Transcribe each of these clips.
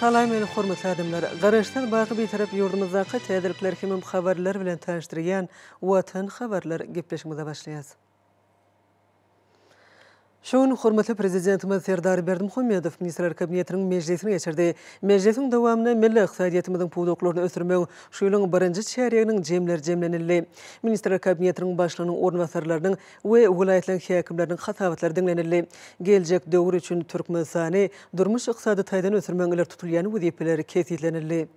Salam meni hormatly adamlar! Garaşsyz baky Bitarap ýurdumyzdaky täzelikler hemem habarlar bilen tanyşdyrýan Watan habarlar gepleşigimize başlaýas. Şu gün hormatly Prezidentimiz Serdar Berdimuhamedow Ministrler Kabinetiniň mejlisini geçirdi. Mejlisiň dowamynda milli ykdysadyýetimiziň pudaklaryny ösdürmegiň şu ýylyň birinji çärýeginiň jemleri jemlenildi. Ministrler Kabinetiniň Başlygynyň orunbasarlarynyň we welaýatlaryň häkimleriniň hasabatlary diňlenildi. Geljek döwür üçin Türkmenistany durmuş-ykdysady taýdan ösdürmegiň ileri tutulýan wezipeleri kesgitlenildi.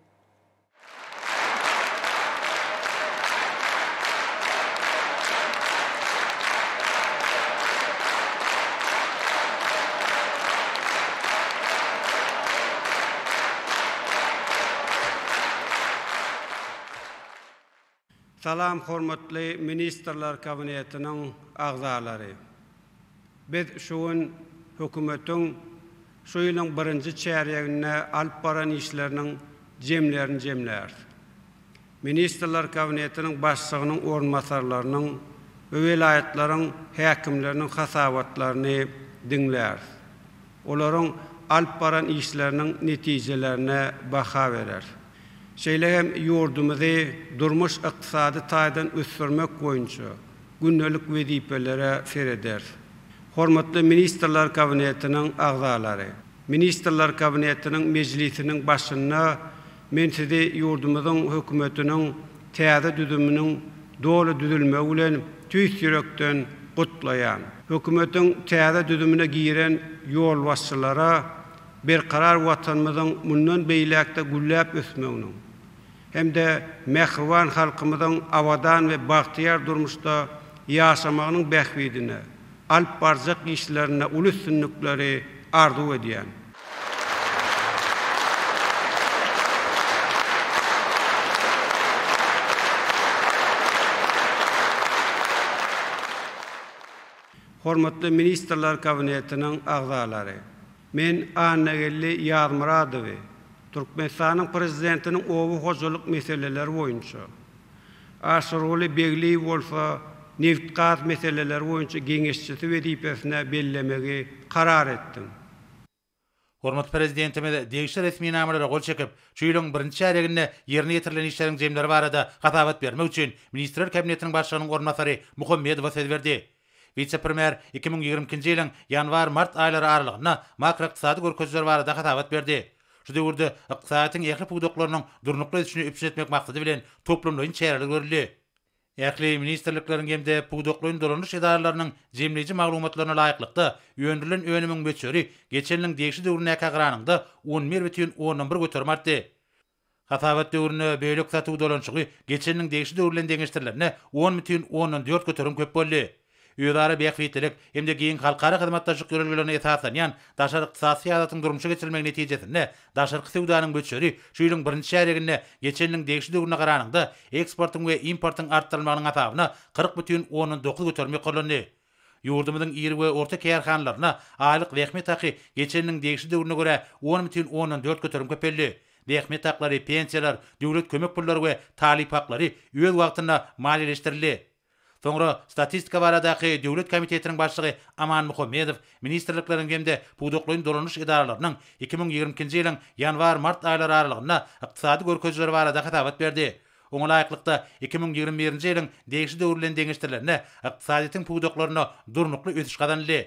Salam hormatly Ministrler Kabinetiniň agzalary! Biz şu gün Hökümetiň şu ýylyň birinji çärýeginde alyp baran işleriniň jemlerini jemläris. Ministrler Kabinetiniň Başlygynyň orunbasarlarynyň we welaýatlaryň häkimleriniň hasabatlaryny diňläris. Olaryň alyp baran işleriniň netijelerine baha bereris. şeýle hem ýurdumyzy durmuş-ykdysady taýdan ösdürmek boýunça gündelik wezipelere serederis. Hormatly Ministrler Kabinetiniň agzalary, Ministrler Kabinetiniň mejlisiniň başynda men Sizi ýurdumyzyň Hökümetiniň täze düzüminiň doly düzülmegi bilen tüýs ýürekden gutlaýan. Hökümetiň täze düzümine giren ýolbaşçylara, Berkarar Watanymyzyň mundan beýläk-de gülläp ösmeginiň hem-de mähriban halkymyzyň abadan we bagtyýar durmuşda ýaşamagynyň bähbidine alyp barjak işlerinde uly üstünlikleri arzuw edýän. Hormatly Ministrler Kabinetiniň agzalary! Men Annageldi Ýazmyradowy Türkmenistanyň Prezidentiniň oba hojalyk meseleleri boýunça, Aşyrguly Begliýewi bolsa nebit-gaz meseleleri boýunça geňeşçisi wezipesine bellemegi karar etdim. Hormatly Prezidentimiz degişli resminamalara gol çekip, şu ýylyň birinji çärýeginde ýerine ýetirilen işleriň jemleri barada hasabat bermek üçin Ministrler Kabinetiniň Başlygynyň orunbasary Muhammedowa söz berdi. Wise-premýer iki müň ýigrimi ikinji ýylyň ýanwar-mart aýlary aralygynda makroykdysady görkezijiler barada hasabat berdi. Şu döwürde ykdysadyýetiň ähli pudaklarynyň durnukly ösüşini üpjün etmek maksady bilen toplumlaýyn çäreler görüldi. Ähli ministrlikleriň hem-de pudaklaýyn dolanyş edaralarynyň jemleýji maglumatlaryna laýyklykda, öndürilen önümiň möçberi geçen ýylyň degişli döwründäkä garanyňda on bir bütin ondan bir göterim artdy. Hasabat döwründe bölek satuw dolanyşygy geçen ýylyň degişli döwri bilen deňeşdirilende on bütin ondan dört göterim köp boldy. özara bähbitlilik hem-de giň halkara hyzmatdaşlyk ýörelgelerine esaslanýan daşary ykdysady syýasatyň durmuşa geçirilmegi netijesinde daşarky söwdanyň möçberi şu ýylyň birinji çärýeginde geçen ýylyň degişli döwrüne garanyňda eksportyň we importyň artdyrylmagynyň hasabyna kyrk bütin ondan dokuz göterim ýokarlandy. Ýurdumyzyň iri we orta kärhanalaryna aýlyk zähmet haky geçen ýylyň degişli döwrüne görä on bütin ondan dört göterim köpeldi. Zähmet haklary, pensiýalar, döwlet kömek pullary we talyp haklary öz wagtynda maliýeleşdirildi. Soňra Statistika baradaky döwlet komitetiniň başlygy Aman Muhammedow ministrlikleriň hem-de pudaklaýyn dolanyş edaralarynyň iki müň ýigrimi ikinji ýylyň ýanwar-mart aýlary aralygynda ykdysady görkezijileri barada hasabat berdi. Oňa laýyklykda, iki müň ýigrimi birinji ýylyň degişli döwri bilen deňeşdirilende, ykdysadyýetiň pudaklaryna durnukly ösüş gazanyldy.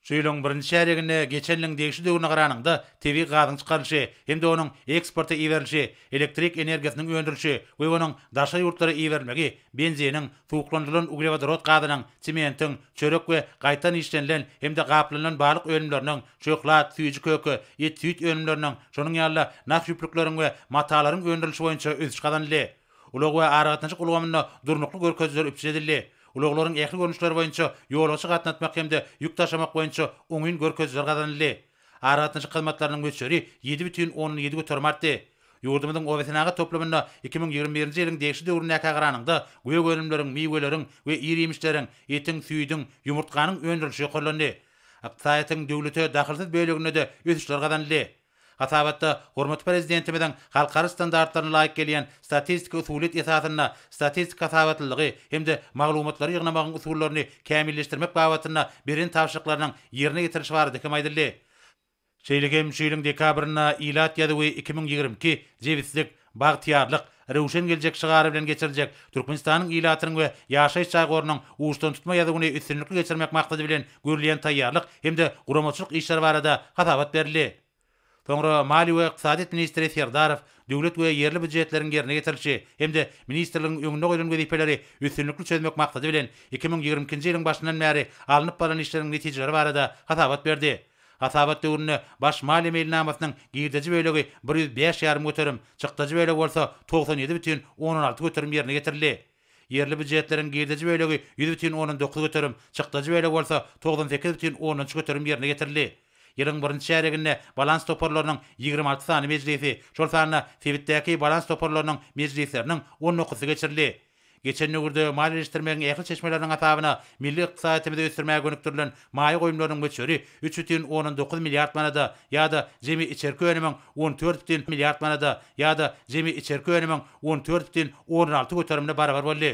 Şu ýylyň birinji çärýeginde geçen ýylyň degişli döwrüne garanyňda tebigy gazyň çykarylyşy hem-de onuň eksporta iberilişi, elektrik energiýasynyň öndürilişi we onuň daşary ýurtlara iberilmegi, benziniň, suwuklandyrylan uglewodorod gazynyň, sementiň, çörek we gaýtadan işlenilen hem-de gaplanylan balyk önümleriniň, şöhlat, süýji köke, et-süýt önümleriniň, şonuň ýaly-da nah ýüplükleriň we matalaryň öndürilişi boýunça ösüş gazanyldy. Ulag we aragatnaşyk ulgamynda durnukly görkezijiler üpjün edildi. Ulaglaryň ähli görnüşleri boýunça ýolagçy gatnatmak hem-de ýük daşamak boýunça oňyn görkezijiler gazanyldy. Aragatnaşyk hyzmatlarynyň möçberi ýedi bütin ondan ýedi göterim artdy. Ýurdumyzyň obasenagat toplumynda iki müň ýigrimi birinji ýylyň degişli döwründäkä garanyňda, gök önümleriň, miweleriň we ir-iýmişleriň, etiň, süýdüň, ýumurtganyň öndürilişi ýokarlandy. Ykdysadyýetiň döwlete dahylsyz böleginde-de ösüşler gazanyldy. Hasabatda hormatly Prezidentimiziň halkara standartlaryna laýyk gelýän statistiki usulyýet esasynda statistik hasabatlylygy hem-de maglumatlary ýygnamagyň usullaryny kämilleşdirmek babatynda beren tabşyryklarynyň ýerine ýetirilişi barada hem aýdyldy. Şeýle hem şu ýylyň dekabrynda Ilat ýazuwy iki müň ýigrimi iki, Jebislik, Bagtyýarlyk, röwşen geljek şygary bilen geçiriljek Türkmenistanyň ilatynyň we ýaşaýyş jaý gorunyň uçdan tutma ýazuwyny üstünlikli geçirmek maksady bilen görülýän taýýarlyk hem-de guramaçylyk işleri barada hasabat berildi. Soňra Maliýe we ykdysadyýet ministri Serdarow döwlet we ýerli býujetleriň ýerine ýetirilişi hem-de ministrligiň öňünde goýlan wezipeleri üstünlikli çözmek maksady bilen iki müň ýigrimi ikinji ýylyň başyndan bäri alnyp barlan işleriň netijeleri barada hasabat berdi. Hasabat döwründe baş maliýe meýilnamasynyň girdeji bölegi bir ýüz bäş ýarym göterim, çykdajy bölegi bolsa togsan ýedi bütin ondan alty göterim ýerine ýetirildi. Ýerli býujetleriň girdeji bölegi ýüz bütin ondan dokuz göterim, çykdajy bölegi bolsa togsan sekiz bütin ondan üç göterim ýerine ýetirildi. Ýylyň birinji çärýeginde balans toparlarynyň ýigrimi alty sany mejlisi, şol sanda sebitdäki balans toparlarynyň mejlisleriniň on dokuzysy geçirildi. Geçen döwürde maliýeleşdirmegiň ähli çeşmeleriniň hasabyna milli ykdysadyýetimizi ösdürmäge gönükdirilen maýa goýumlarynyň möçberi üç bütin ondan dokuz milliard manada ýa-da jemi içerki önümiň on dört bütin milliard manada ýa-da jemi içerki önümiň on dört bütin ondan alty göterimine barabar boldy.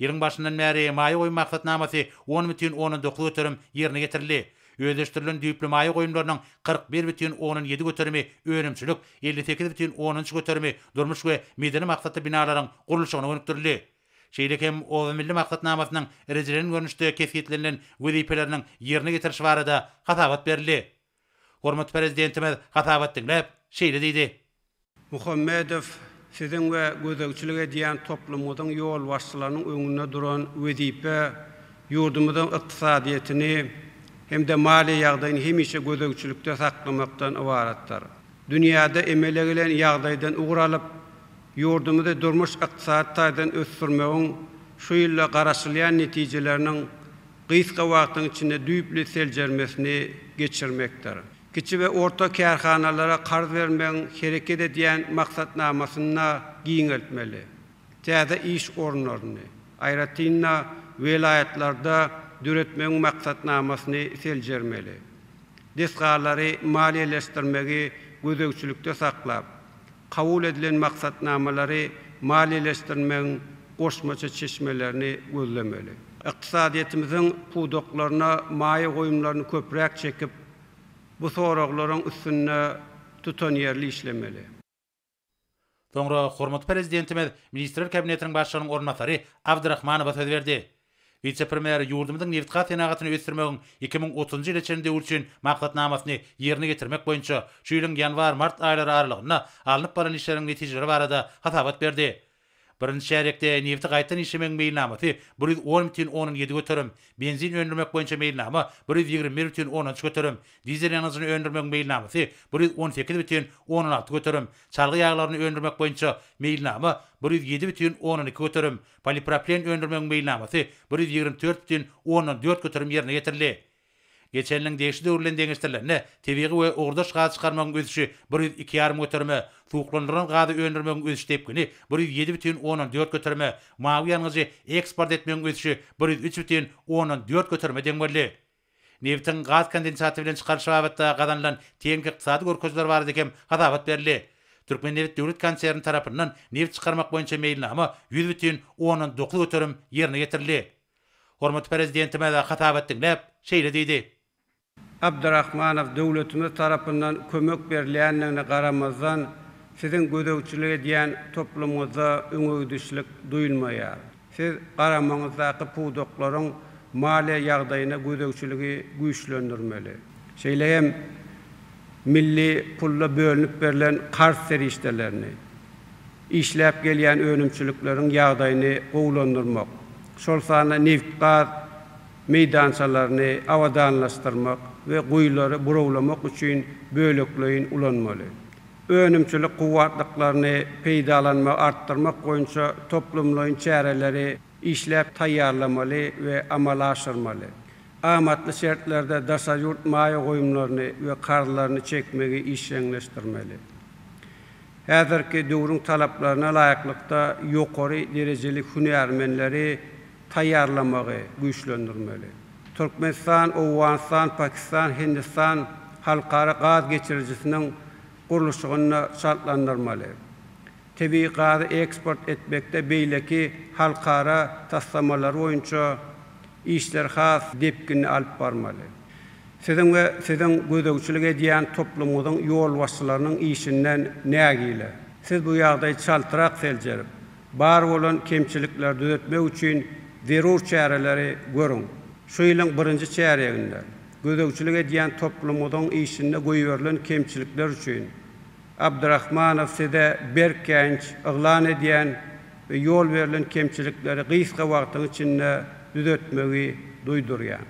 Ýylyň başyndan bäri maýa goýum maksatnamasy on bütin ondan dokuz göterim ýerine getirildi. Özleşdirilen düýpli maýa goýumlarynyň kyrk bir bütin ondan ýedi göterimi önümçilik, elli sekiz bütin ondan üç göterimi durmuş we medeni maksatly binalaryň gurluşygyna gönükdirildi. Şeýle hem Oba milli maksatnamasynyň rejelenen görnüşde kesgitlenilen wezipeleriniň ýerine ýetirişi barada hasabat berildi. Hormatly Prezidentimiz hasabat diňläp, şeýle diýdi. Muhammedow siziň we gözegçilik edýän toplumyňyzyň ýolbaşçylarynyň öňünde duran wezipe ýurdumyzyň ykdysadyýetini hem-de maliýe ýagdaýyny hemişe gözegçilikde saklamakdan ybaratdyr. Dünýäde emele gelen ýagdaýdan ugur alyp, ýurdumyzy durmuş-ykdysady taýdan ösdürmegiň şu ýylda garaşylýan netijeleriniň gysga wagtyň içinde düýpli seljermesini geçirmekdir. Kiçi we orta kärhanalara karz bermegiň hereket edýän maksatnamasyny-da giňeltmeli, täze iş orunlaryny, aýratyn-da, welaýatlarda döretmegiň maksatnamasyny seljermeli, desgalary maliýeleşdirmegi gözegçilikde saklap, kabul edilen maksatnamalary maliýeleşdirmegiň goşmaça çeşmelerini gözlemeli. Ykdysadyýetimiziň pudaklaryna maýa goýumlaryny köpräk çekip, bu soraglaryň üstünde tutanýerli işlemeli. Soňra hormatly Prezidentimiz Ministrler Kabinetiniň Başlygynyň orunbasary Abdrahmanowa söz berdi. Wise-premýer ýurdumyzyň nebitgaz senagatyny ösdürmegiň iki müň otuzynjy ýyla çenli döwri üçin maksatnamasyny ýerine ýetirmek boýunça şu ýylyň ýanwar-mart aýlary aralygynda alnyp baran işleriň netijeleri barada hasabat berdi. Birinji çärýekde nebiti gaýtadan işlemegiň meýilnamasy bir ýüz on bütin ondan ýedi göterim, benzin öndürmek boýunça meýilnama bir ýüz ýigrimi bir bütin ondan üç göterim, dizel ýangyjyny öndürmegiň meýilnamasy bir ýüz on sekiz bütin ondan alty göterim, çalgy ýaglaryny öndürmek boýunça meýilnama bir ýüz ýedi bütin ondan iki göterim, Polipropilen öndürmegiň meýilnamasy bir ýüz ýigrimi dört bütin ondan dört göterim ýerine ýetirildi. Geçen ýylyň degişli döwri bilen deňeşdirilende, tebigy we ugurdaş gaz çykarmagyň ösüşi bir ýüz iki ýarym göterime, suwuklandyrylan gazy öndürmegiň ösüş depgini bir ýüz ýedi bütin ondan dört göterime, mawy ýangyjy eksport etmegiň ösüşi bir ýüz üç bütin ondan dört göterime deň boldy. Nebitiň gaz kondensaty bilen çykaryşy babatda gazanylan teňňek ykdysady görkeziler barada hem hasabat berildi. Türkmennebit döwlet konserni tarapyndan nebit çykarmak boýunça meýilnama ýüz bütin ondan dokuz göterim ýerine ýetirildi. Hormatly Prezidentimiz hasabat diňläp, şeýle diýdi. Abdrahmanow döwletimiz tarapyndan kömek berilýändigine garamazdan, siziň gözegçilik edýän toplumyňyzda öňegidişlik duýulmaýar. Siz garamaňyzdaky pudaklaryň maliýe ýagdaýyna gözegçiligi güýçlendirmeli. Şeýle hem milli pulda bölünip berlen karz serişdelerini, işläp gelýän önümçilikleriň ýagdaýyny gowulandyrmak, şol sanda nebit-gaz meýdançalaryny abadanlaşdyrmak we guýulary burawlamak üçin bölekleýin ulanmaly. önümçilik kuwwatlyklaryny peýdalanmagy artdyrmak boýunça toplumlaýyn çäreleri işläp taýýarlamaly we amala aşyrmaly, amatly şertlerde daşary ýurt maýa goýumlaryny we karzlaryny çekmegi işjeňleşdirmeli. Häzirki döwrüň talaplaryna laýyklykda ýokary derejeli hünärmenleri taýýarlamagy güýçlendirmeli. Türkmenistan, Owganystan, Pakistan, Hindistan halkara gaz geçirijisiniň gurluşygyny çaltlandyrmaly. Tebigy gazy eksport etmekde beýleki halkara taslamalary boýunça işleri has depginli alyp barmaly. Siziň we siziň gözegçilik edýän toplumyňyzyň ýolbaşçylarynyň işinden nägile. Siz bu ýagdaýy çaltrak seljerip, Bar bolan kemçilikleri düzetmek üçin zerur çäreleri görüň. Şu ýylyň birinji çärýeginde gözegçilik edýän toplumyňyzyň işinde goýberilen kemçilikler üçin Abdrahmanow size berk käýinç yglan edýän we ýol berlen kemçilikleri gysga wagtyň içinde düzetmegi duýdurýan.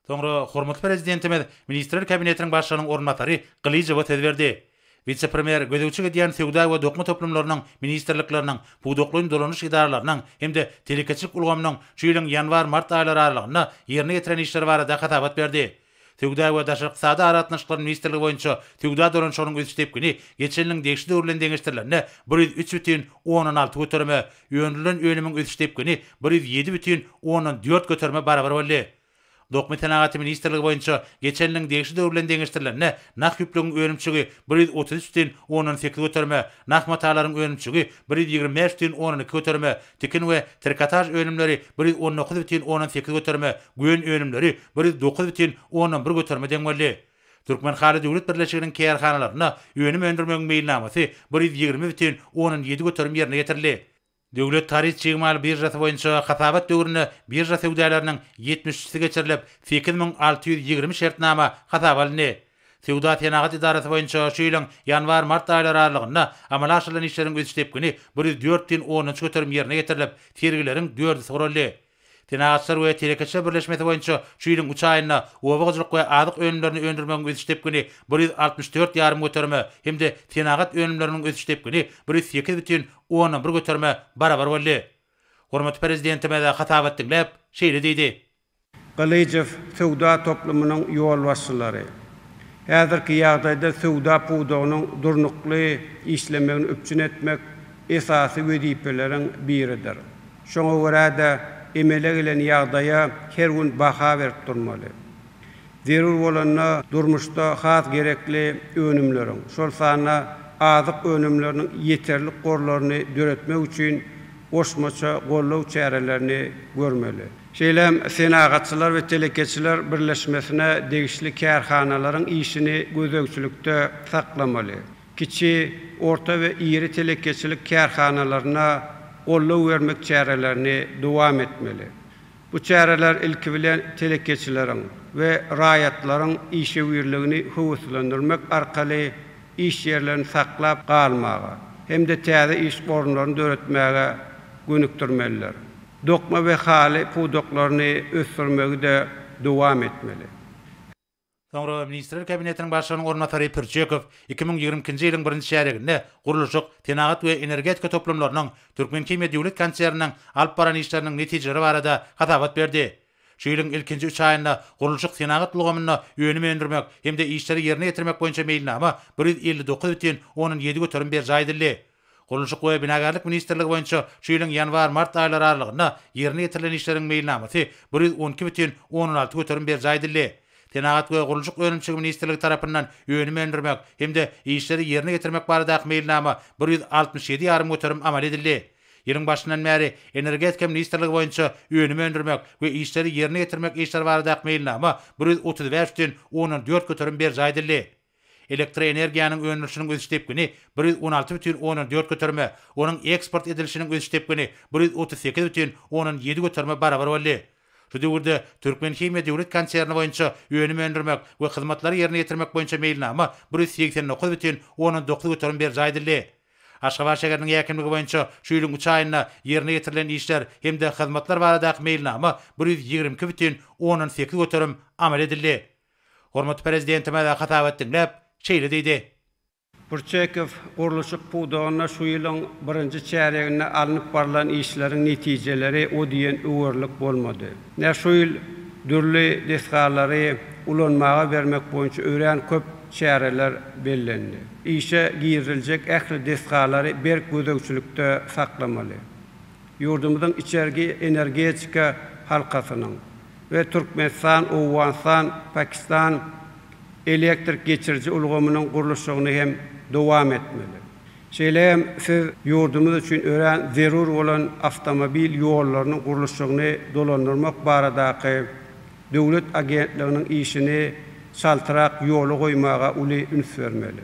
Soňra hormatly Prezidentimiz Ministrler Kabinetiniň Başlygynyň orunbasary Gylyjowa söz berdi. Wise-premýer gözegçilik edýän söwda we dokma toplumlarynyň ministrlikleriniň, pudaklaýyn dolanyş edaralarynyň hem-de telekeçilik ulgamynyň şu ýylyň ýanwar-mart aýlary aralygynda ýerine ýetiren işleri barada hasabat berdi. Söwda we daşary ykdysady aragatnaşyklar ministrligi boýunça söwda dolanyşygynyň ösüş depgini geçen ýylyň degişli döwri bilen deňeşdirilende bir ýüz üç bütin ondan alty göterime, Öndürilen önümiň ösüş depgini bir ýüz ýedi bütin ondan dört göterime barabar boldy. Dokma senagaty ministrligi boýunça geçen ýylyň degişli döwri bilen deňeşdirilende nah ýüplügiň önümçigi bir ýüz otuz üç bütin ondan sekiz göterime, nah matalaryň önümçigi bir ýüz ýigrimi bäş bütin ondan iki göterime, tikin we trikotaž önümleri bir ýüz on dokuz bütin ondan sekiz göterime, gön önümleri bir ýüz dokuz bütin ondan bir göterime deň boldy. Türkmenhaly döwlet birleşiginiň kärhanalarynda önüm öndürmegiň meýilnamasy bir ýüz ýigrimi bütin ondan ýedi göterim ýerine ýetirildi. Döwlet haryt çig mal biržasy boýunça hasabat döwründe birža söwdalarynyň ýetmiş üçüsi geçirilip, sekiz müň alty ýüz ýigrimi şertnama hasaba alyndy. Söwda-senagat edarasy boýunça şu ýylyň ýanwar-mart aýlary aralygynda amala aşyrylan işleriň ösüş depgini bir ýüz dört bütin ondan üç göterim ýerine ýetirilip, sergileriň dördüsi guraldy. Senagatçylar we telekeçiler birleşmesi boýunça şu ýylyň üç aýynda oba hojalyk we azyk önümlerini öndürmegiň ösüş depgini bir ýüz altmyş dört ýarym göterime hem-de senagat önümleriniň ösüş depgini bir ýüz sekiz bütin ondan bir göterime barabar boldy. Hormatly Prezidentimiz hasabat diňläp, şeýle diýdi. Gylyjow söwda toplumynyň ýolbaşçylary häzirki ýagdaýda söwda pudagynyň durnukly işlemegini üpjün etmek esasy wezipeleriň biridir. Şoňa görä-de, emele gelen ýagdaýa her gün baha berip durmaly. Zerur bolanda durmuşda has gerekli önümleriň, şol sanda azyk önümleriniň ýeterlik gorlaryny döretmek üçin goşmaça goldaw çärelerini görmeli. Şeýle hem Senagatçylar we telekeçiler birleşmesine degişli kärhanalaryň işini gözegçilikde saklamaly. kiçi, orta we iri telekeçilik kärhanalaryna goldaw bermek çärelerini dowam etmeli. Bu çäreler, ilki bilen, telekeçileriň we raýatlaryň işewürligini höweslendirmek arkaly iş ýerlerini saklap galmaga hem-de täze iş orunlaryny döretmäge gönükdirmelidir. Dokma we haly pudaklaryny ösdürmegi-de dowam etmeli. Soňra Ministrler Kabinetiniň Başlygynyň orunbasary Pürçekow iki müň ýigrimi ikinji ýylyň birinji çärýeginde gurluşyk, senagat we energetika toplumlarynyň Türkmenhimiýa döwlet konserniniň alyp baran işleriniň netijeleri barada hasabat berdi. Şu ýylyň ilkinji üç aýynda gurluşyk-senagat ulgamynda önüm öndürmek hem-de işleri ýerine ýetirmek boýunça meýilnama bir ýüz elli dokuz bütin ondan ýedi göterim berjaý edildi. Gurluşyk we binagärlik ministrligi boýunça şu ýylyň ýanwar-mart aýlary aralygynda ýerine ýetirilen işleriň meýilnamasy bir ýüz on iki bütin ondan alty göterim berjaý edildi. Senagat we gurluşyk önümçiligi ministrligi tarapyndan önüm öndürmek hem-de işleri ýerine ýetirmek baradaky meýilnama bir ýüz altmyş ýedi ýarym göterim amal edildi. Ýylyň başyndan bäri Energetika ministrligi boýunça önüm öndürmek we işleri ýerine ýetirmek işleri baradaky meýilnama bir ýüz otuz bäş bütin ondan dört göterim berjaý edildi. Elektroenergiýanyň öndürilişiniň ösüş depgini bir ýüz on alty bütin ondan dört göterime, onuň eksport edilişiniň ösüş depgini bir ýüz otuz sekiz bütin ondan ýedi göterime barabar boldy. Şu döwürde Türkmenhimiýa döwlet konserni boýunça önüm öndürmek we hyzmatlary ýerine ýetirmek boýunça meýilnama bir ýüz segsen dokuz bütin ondan dokuz göterim berjaý edildi. Aşgabat şäheriniň häkimligi boýunça şu ýylyň üç aýynda ýerine ýetirilen işler hem-de hyzmatlar baradaky meýilnama bir ýüz ýigrimi iki bütin ondan sekiz göterim amal edildi. Hormatly Prezidentimiz hasabat diňläp, şeýle diýdi. Burçekow gurluşyk pudagynda şu ýylyň birinji çärýeginde alnyp barlan işleriň netijeleri o diýen öwerlik bolmady. Nä şu ýyl dürli desgalary ulanmaga bermek boýunça örän köp çäreler bellendi. Işe giriziljek ähli desgalary berk gözegçilikde saklamaly. Ýurdumyzyň içerki energetika halkasynyň we Türkmenistan, Owganystan, Pakistan elektrik geçiriji ulgamynyň gurluşygyny hem dowam etmeli. Şeýle hem siz ýurdumyz üçin örän zerur bolan awtomobil ýollarynyň gurluşygyny dolandyrmak baradaky döwlet agentliginiň işini çaltrak ýola goýmaga uly üns bermeli.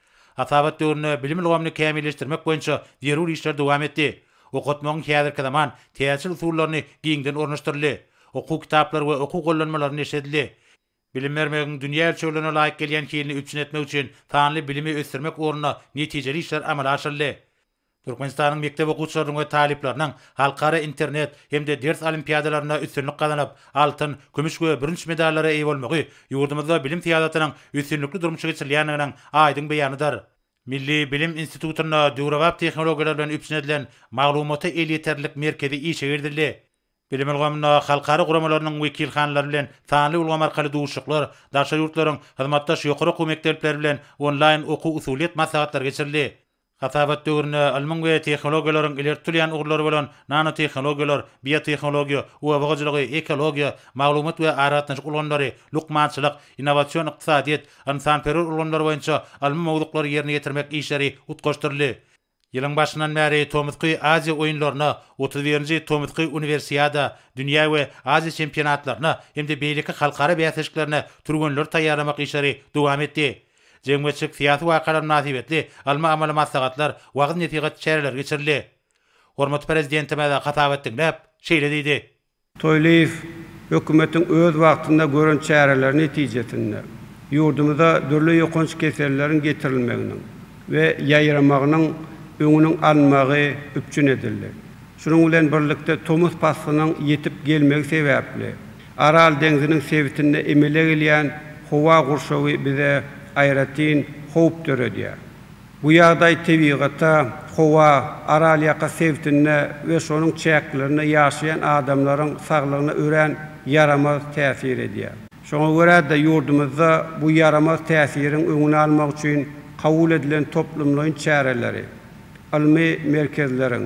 Hasabat döwründe bilim ulgamyny kämilleşdirmek boýunça zerur işler dowam etdi. Okatmagyň häzirki zaman täjir usullaryny giňden ornaşdyryldy. Okuw kitaplary we okuw gollanmalary neşir edildi. Bilim bermegiň dünýä ölçeglerine laýyk gelýän hilini üpjün etmek üçin sanly bilimi ösdürmek ugrunda netijeli işler amala aşyryldy. Türkmenistanyň mekdep okuwçylarynyň we talyplarynyň halkara internet hem-de ders olimpiadalarynda üstünlik gazanyp, altyn, kümüş we bürünç medallara eýe bolmagy ýurdumyzda bilim syýasatynyň üstünlikli durmuşa geçirilýändiginiň aýdyň beýanydyr. Milli bilim institutynda döwrebap tehnologiýalar bilen üpjün edilen Maglumata elýeterlilik merkezi işe girizildi. Bilim ulgamynda halkara guramalarynyň wekilhanalary bilen sanly ulgam arkaly duşuşyklar, daşary ýurtlaryň hyzmatdaş ýokary okuw mekdepleri bilen onlaýn okuw-usulyýet maslahatlary geçirildi. Hasabat döwründe ylmyň we tehnologiýalaryň ileri tutulýan ugurlary bolan nanotehnologiýalar, biotehnologiýa, oba hojalygy, ekologiýa, maglumat we aragatnaşyk ulgamlary, lukmançylyk, innowasion ykdysadyýet, ynsanperwer ulgamlar boýunça ylmy mowzuklary ýerine ýetirmek işleri utgaşdyryldy. Ýylyň başyndan bäri Tomusky Aziýa oýunlaryna, otuz birinji Tomusky Uniwersiada, dünýä we Aziýa çempionatlaryna hem-de beýleki halkara bäsleşiklerine türgenleri taýýarlamak işleri dowam etdi. Jemgyýetçilik-syýasy wakalar mynasybetli ylmy-amaly maslahatlar, wagyz-nesihat çäreleri geçirildi. Hormatly Prezidentimiz hasabat diňläp, şeýle diýdi. Toýlyýew Hökümetiň öz wagtynda gören çäreleri netijesinde, ýurdumyza dürli ýokanç keselleriň getirilmeginiň we ýaýramagynyň öňüniň alynmagy üpjün edildi. Şunuň bilen birlikde tomus paslynyň ýetip gelmegi sebäpli, Aral deňziniň sebitinde emele gelýän howa gurşawy bize aýratyn howp döredýär. Bu ýagdaý tebigata, howa, Aralýaka sebitinde we şonuň çäklerinde ýaşaýan adamlaryň saglygyna örän ýaramaz täsir edýär. Şoňa görä-de, ýurdumyzda bu ýaramaz täsiriň öňüni almak üçin kabul edilen toplumlaýyn çäreleri, ylmy merkezleriň,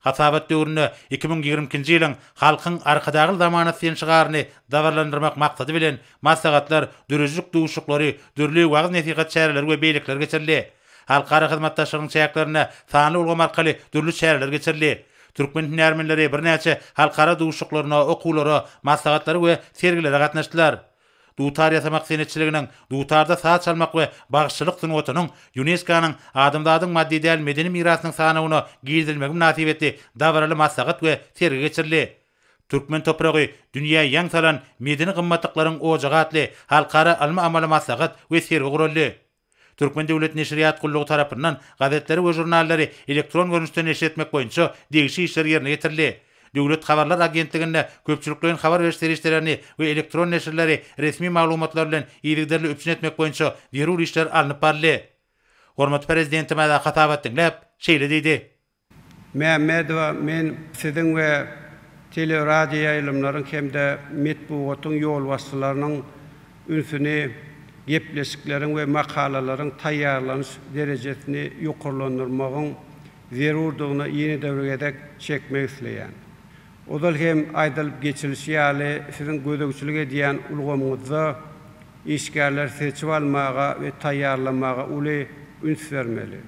Hasabat döwründe iki müň ýigrimi ikinji ýylyň Halkyň Arkadagly zamanasy diýen şygaryny dabaralandyrmak maksady bilen, maslahatlar, döredijilik duşuşyklary, dürli wagyz-nesihat çäreleri we beýlekiler geçirildi. Halkara hyzmatdaşlygynyň çäklerinde sanly ulgam arkaly dürli çäreler geçirildi. Türkmen hünärmenleri birnäçe halkara duşuşyklaryna, okuwlara, maslahatlara we sergilere gatnaşdylar. Dutar ýasamak senetçiliginiň, dutarda saz çalmak we bagşyçylyk sungatynyň Ýunesko-nyň Adamzadyň maddy däl medeni mirasynyň sanawyna girizilmegi mynasybetli dabaraly maslahat we sergi geçirildi. Türkmen topragy, dünýä ýaň salan medeni gymmatlyklaryň ojagy atly halkara ylmy-amaly maslahat we sergi guraldy. Türkmen döwlet neşirýat gullugy tarapyndan gazetleri we žurnallary elektron görnüşde neşir etmek boýunça degişli işler ýerine ýetirildi. Döwlet habarlar agentliginde köpçülikleýin habar beriş serişdelerini we elektron neşirleri resmi maglumatlar bilen yzygiderli üpjün etmek boýunça zerur işler alnyp baryldy. Hormatly Prezidentimiz hasabat diňläp, şeýle diýdi. Mämmedowa men siziň we teleradioýaýlymlaryň hem-de metbugatyň ýolbaşçylarynyň ünsüni gepleşikleriň we makalalaryň taýýarlanyş derejesini ýokarlandyrmagyň zerurdygyna ýene-de bir gezek çekmek isleýän. Ozal hem aýdylyp geçilişi ýaly, siziň gözegçilik edýän ulgamyňyzda işgärleri seçip almaga we taýýarlamaga uly üns bermeli.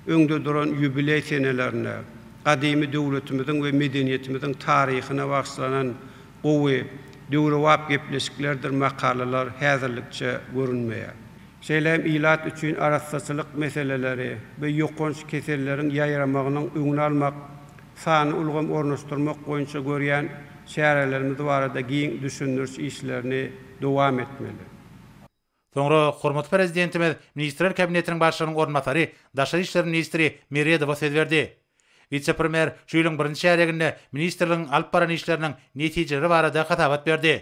öňde duran ýubileý senelerine, gadymy döwletimiziň we medeniýetimiziň taryhyna bagyşlanan gowy, döwrebap gepleşiklerdir makalalar häzirlikçe görünmeýär. Şeýle hem ilat üçin arassaçylyk meseleleri we ýokanç keselleriň ýaýramagynyň öňüni almak, sanly ulgam ornaşdyrmak boýunça görýän çärelerimiz barada giň düşündiriş işlerini dowam etmeli. Soňra hormatly Prezidentimiz Ministrler Kabinetiniň Başlygynyň orunbasary, daşary işler ministri Meredowa söz berdi. Wise-premýer şu ýylyň birinji çärýeginde ministrligiň alyp baran işleriniň netijeleri barada hasabat berdi.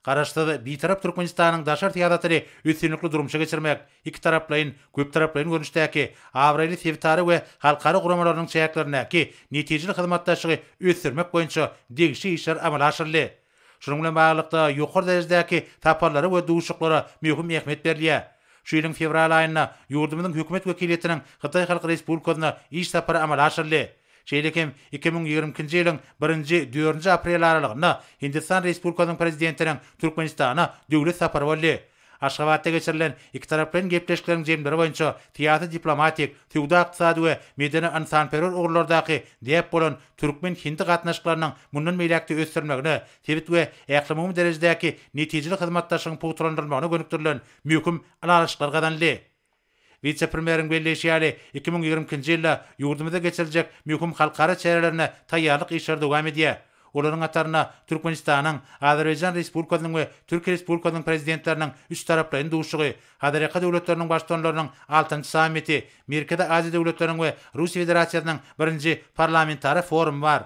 Garaşsyz, Bitarap Türkmenistanyň daşary syýasatyny üstünlikli durmuşa geçirmek, ikitaraplaýyn, köptaraplaýyn görnüşdäki, abraýly sebitara we halkara guramalarynyň çäklerindäki netijeli hyzmatdaşlygy ösdürmek boýunça degişli işler amala aşyryldy. Şunuň bilen baglylykda, ýokary derejedäki saparlara we duşuşyklara möhüm ähmiýet berilýär. Şu ýylyň fewral aýynda ýurdumyzyň Hökümet wekiliýetiniň Hytaý Halk Respublikasyna iş sapary amala aşyryldy. Şeýle hem iki müň ýigrimi ikinji ýylyň birinji, dördünji aprel aralygynda Hindistan Respublikasynyň Prezidentiniň Türkmenistana döwlet sapary boldy. Aşgabatda geçirilen ikitaraplaýyn gepleşikleriň jemleri boýunça syýasy-diplomatik, söwda-ykdysady we medeni-ynsanperwer ugurlardaky däp bolan türkmen-hindi gatnaşyklarynyň mundan beýläk-de ösdürilmegine, sebit we ählumumy derejedäki netijeli hyzmatdaşlygyň pugtalandyrylmagyna gönükdirilen möhüm ylalaşyklar gazanyldy. Wise-premýeriň belleýşi ýaly, iki müň ýigrimi ikinji ýylda ýurdumyzda geçiriljek möhüm halkara çärelerine taýýarlyk işleri dowam edýär. Olaryň hatarynda Türkmenistanyň, Azerbaýjan Respublikasynyň we Türkiýe Respublikasynyň Prezidentleriniň üçtaraplaýyn duşuşygy, Hazarýaka döwletleriniň Baştutanlarynyň altynjy sammiti, Merkezi Aziýa döwletleriniň we Russiýa Federasiýasynyň birinji Parlamentara forumy bar.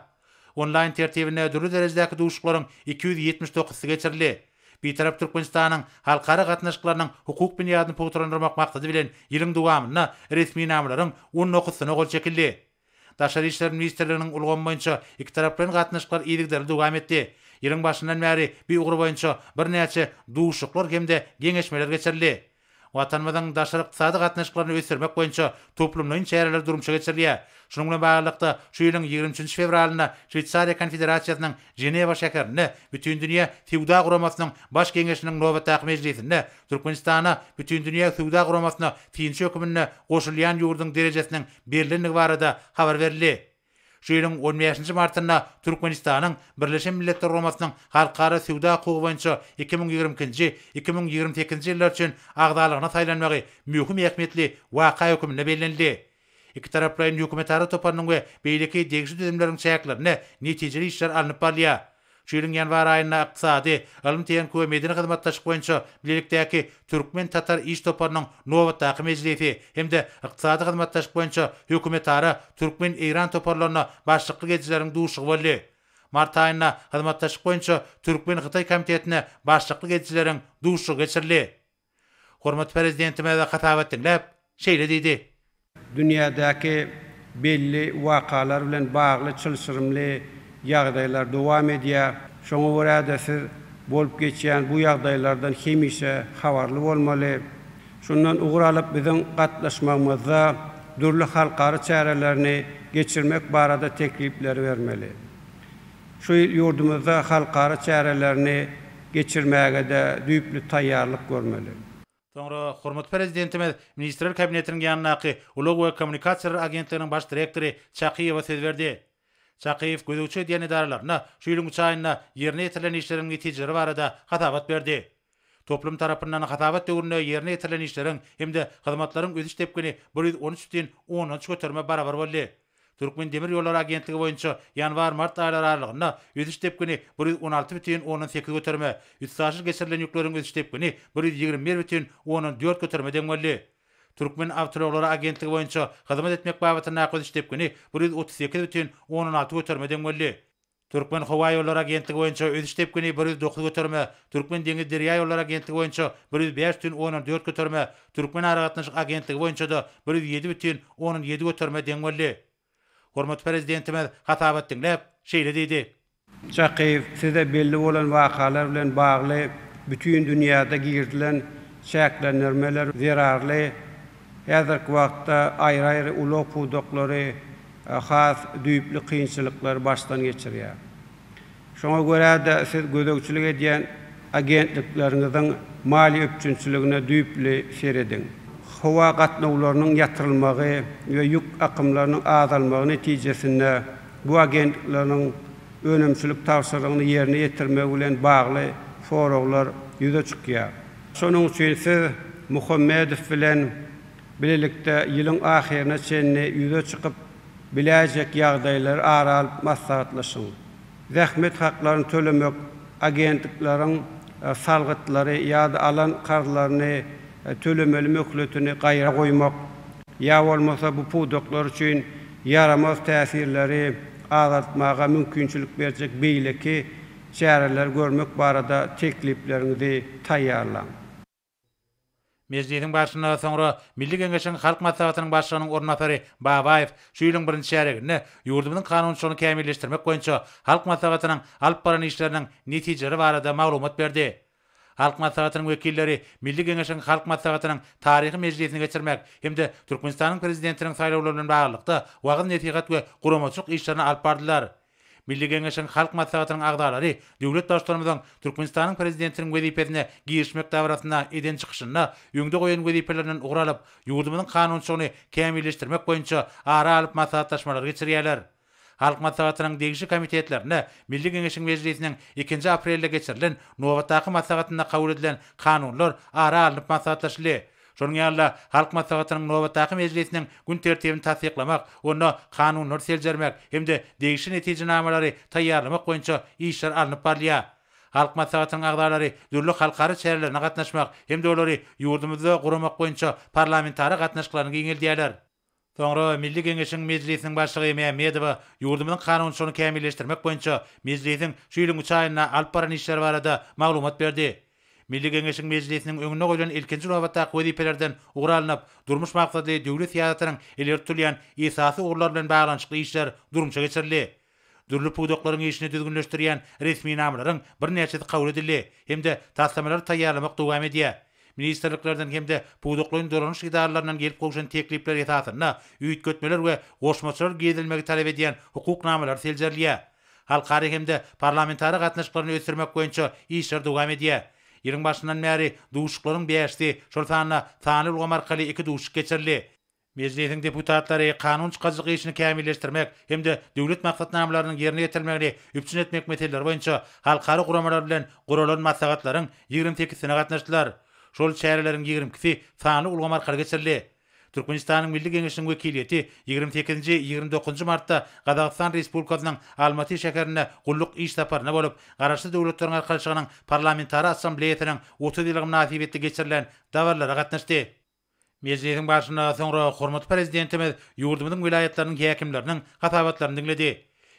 Onlaýn tertibinde dürli derejedäki duşuşyklaryň iki ýüz ýetmiş dokuzysy geçirildi. Bitarap Türkmenistanyň halkara gatnaşyklarynyň hukuk binýadyny pugtalandyrmak maksady bilen ýylyň dowamynda resminamalaryň on dokuzysyna gol çekildi. Daşary işler ministrliginiň ulgamy boýunça ikitaraplaýyn gatnaşyklar yzygiderli dowam etdi. Ýylyň başyndan bäri bi ugur boýunça birnäçe duşuşyklar hem-de geňeşmeler geçirildi. Watanymyzyň daşary ykdysady gatnaşyklaryny ösdürmek boýunça toplumlaýyn çäreler durmuşa geçirilýär. Şunuň bilen baglylykda, şu ýylyň ýigrimi üçünji fewralynda Şweýsariýa Konfederasiýasynyň Ženewa şäherinde Bütindünýä söwda guramasynyň Baş geňeşiniň nobatdaky mejlisinde Türkmenistana Bütindünýä söwda guramasyna synçy höküminde goşulýan ýurduň derejesiniň berlendigi barada habar berildi. Şu ýylyň on bäşinji martynda Türkmenistanyň Birleşen Milletler Guramasynyň Halkara söwda hukugy boýunça iki müň ýigrimi ikinji, iki müň ýigrimi sekizinji ýyllar üçin agzalygyna saýlanmagy möhüm ähmiýetli waka hökmünde bellenildi. Ikitaraplaýyn hökümetara toparynyň we beýleki degişli düzümleriň çäklerinde netijeli işler alnyp barylýar. Şu ýylyň ýanwar aýynda Ykdysady, ylym-tehniki we medeni hyzmatdaşlyk boýunça bilelikdäki türkmen-tatar iş toparynyň nobatdaky mejlisi hem-de Ykdysady hyzmatdaşlyk boýunça hökümetara türkmen-eýran toparlaryna başlyklyk edijileriň duşuşygy boldy. Mart aýynda Hyzmatdaşlyk boýunça türkmen-hytaý komitetine başlyklyk edijileriň duşuşygy geçirildi. Hormatly Prezidentimiz hasabat diňläp, şeýle diýdi. Dünýädäki belli wakalar bilen bagly çylşyrymly ýagdaýlar dowam edýär. Şoňa görä-de, siz bolup geçýän bu ýagdaýlardan hemişe habarly bolmaly. Şundan ugur alyp, biziň gatnaşmagymyzda dürli halkara çärelerini geçirmek barada teklipleri bermeli. Şu ýyl ýurdumyzda halkara çärelerini geçirmäge-de düýpli taýýarlyk görmeli. Soňra hormatly Prezidentimiz Ministrler Kabinetiniň ýanyndaky Ulag we kommunikasiýalar agentliginiň baş direktory Çakyýewa söz berdi. Çakyýew gözegçi edýän edaralaryna şu ýylyň üç aýynda ýerine ýetirilen işleriň netijeleri barada hasabat berdi. Toplum tarapyndan hasabat döwründe ýerine ýetirilen işleriň hem-de hyzmatlaryň ösüş depgini bir ýüz on üç dütin ondan üç göterime barabar boldy. Türkmendemirýollary agentligi boýunça ýanwar-mart aýlary aralygynda ösüş depgini bir ýüz on alty dütin ondan sekiz göterime, üstaşyr geçirilen ýükleriň ösüş depgini bir ýüz ýigrimi bir dütin ondan dört göterime deň boldy. Türkmenawtoulaglary agentligi boýunça hyzmat etmek babatyndaky ösüş depgini bir ýüz otuz sekiz dütin ondan alty göterime deň boldy. Türkmen howa ýollary agentligi boýunça ösüş depgini bir ýüz dokuz göterime, Türkmen deňiz derýa ýollary agentligi boýunça bir ýüz bäş bütin ondan dört göterime, Türkmen aragatnaşyk agentligi boýunça-da bir ýüz ýedi bütin ondan ýedi göterime deň boldy. Hormatly Prezidentimiz hasabat diňläp, şeýle diýdi. Çakyýew, size belli bolan wakalar bilen bagly bütin dünýäde girizilen çäklendirmeler zerarly Häzirki wagtda aýry-aýry ulag pudaklary has düýpli kynçylyklary başdan geçirýär. Şoňa görä-de, siz gözegçilik edýän agentlikleriňiziň maliýe üpjünçiligine düýpli serediň. Howa gatnawlarynyň ýatyrylmagy we ýük akymlarynyň azalmagy netijesinde bu agentlikleriň önümçilik tabşyrygyny ýerine ýetirmegi bilen bagly soraglar ýüze çykýar. Şonuň üçin siz Muhammedow bilen bilelikde ýylyň ahyryna çenli ýüze çykyp biläýjek ýagdaýlary ara alyp maslahatlaşyň. Zähmet haklaryny tölemek agentlikleriň salgytlary ýa-da alan karzlaryny tölemeli möhletini gaýra goýmak ýa bolmasa bu pudaklar üçin ýaramaz täsirleri azaltmaga mümkinçilik berjek beýleki Çäreleri görmek barada teklipleriňizi taýýarlaň. Mejlisiň barşynda soňra Milli Geňeşiň Halk Maslahatynyň Başlygynyň orunbasary Babaýew şu ýylyň birinji çärýeginde ýurdumyzyň kanunçylygyny kämilleşdirmek boýunça Halk Maslahatynyň alyp baran işleriniň netijeleri barada maglumat berdi. Halk Maslahatynyň wekilleri Milli Geňeşiň Halk Maslahatynyň taryhy mejlisini geçirmek hem-de Türkmenistanyň Prezidentiniň saýlawlary bilen baglylykda wagyz-nesihat we guramaçylyk işlerini alyp bardylar. Milli Geňeşiň Halk Maslahatynyň agzalary döwlet Baştutanymyzyň Türkmenistanyň Prezidentiniň wezipesine girişmek dabarasynda eden çykyşynda öňde goýan wezipelerinden ugur alyp, ýurdumyzyň kanunçylygyny kämilleşdirmek boýunça ara alyp maslahatlaşmalary geçirýärler. Halk Maslahatynyň degişli komitetlerinde Milli Geňeşiň mejlisiniň ikinji aprelde geçirilen nobatdaky maslahatynda kabul edilen kanunlar ara alnyp maslahatlaşyldy. Şonuň ýaly-da, Halk Maslahatynyň nobatdaky mejlisiniň gün tertibini tassyklamak, onda kanunlary seljermek hem-de degişli netijenamalary taýýarlamak boýunça işler alnyp barylýar. Halk Maslahatynyň agzalary dürli halkara çärelerine gatnaşmak hem-de olary ýurdumyzda guramak boýunça parlamentara gatnaşyklaryny giňeldýärler. Soňra Milli Geňeşiň Mejlisiniň Başlygy Mämmedowa ýurdumyzyň kanunçylygyny kämilleşdirmek boýunça Mejlisiň şu ýylyň üç aýynda alyp baran işleri barada maglumat berdi. Milli Geňeşiň Mejlisiniň öňünde goýlan ilkinji nobatdaky wezipelerden ugur alnyp, durmuş maksatly döwlet syýasatynyň ileri tutulýan esasy ugurlary bilen baglanyşykly işler durmuşa geçirildi. Dürli pudaklaryň işini düzgünleşdirýän resminamalaryň birnäçesi kabul edildi hem-de taslamalary taýýarlamak dowam edýär. Ministrliklerden hem-de pudaklaýyn dolanyş edaralaryndan gelip gowşan teklipler esasynda üýtgetmeler we goşmaçalar girizilmegi talap edýän hukuk namalary seljerilýär. Halkara hem-de parlamentara gatnaşyklaryny ösdürmek boýunça işler dowam edýär. Ýylyň başyndan bäri duşuşyklaryň bäşisi, şol sanda sanly ulgam arkaly iki duşuşyk geçirildi. Mejlisiň deputatlary kanun çykaryjylyk işini kämilleşdirmek hem-de döwlet maksatnamalarynyň ýerine ýetirilmegini üpjün etmek meseleleri boýunça halkara guramalar bilen guralan maslahatlaryň ýigrimi sekizisine gatnaşdylar. Şol çäreleriň ýigrimi ikisi sanly ulgam arkaly geçirildi. Türkmenistanyň Milli Geňeşiniň wekiliýeti ýigrimi sekizinji, ýigrimi dokuzynjy martda Gazagystan Respublikasynyň Almaty şäherinde gulluk iş saparynda bolup, Garaşsyz Döwletleriň Arkalaşygynyň Parlamentara Assambleýasynyň otuz ýyllygy mynasybetli geçirilen dabaralara gatnaşdy. Mejlisiň barşynda soňra hormatly Prezidentimiz ýurdumyzyň welaýatlarynyň häkimleriniň hasabatlaryny diňledi.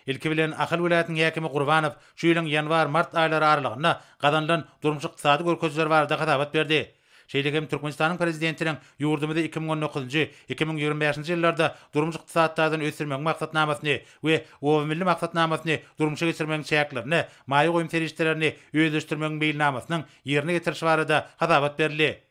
Ilki bilen, Ahal welaýatynyň häkimi Gurbanow şu ýylyň ýanwar-mart aýlary aralygynda gazanylan durmuş-ykdysady görkezijiler barada hasabat berdi. Şeýle hem Türkmenistanyň Prezidentiniň ýurdumyzy iki müň on dokuzynjy, iki müň ýigrimi bäşinji ýyllarda durmuş-ykdysady taýdan ösdürmegiň maksatnamasyny we Obamilli maksatnamasyny durmuşa geçirmegiň çäklerinde maýa goýum serişdelerini özleşdirmegiň meýilnamasynyň ýerine getirilişi barada hasabat berildi.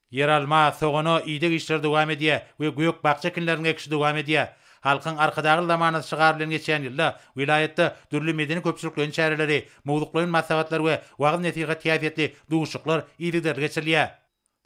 Ýeralma, sogana ideg işleri dowam edýär we gök-bakja ekinleriniň ekişi dowam edýär. Halkyň Arkadagly zamanasy şygary bilen geçýän ýylda welaýatda dürli medeni-köpçülikleýin çäreleri, mowzuklaýyn maslahatlar we wagyz-nesihat häsiýetli duşuşyklar yzygiderli geçirilýär.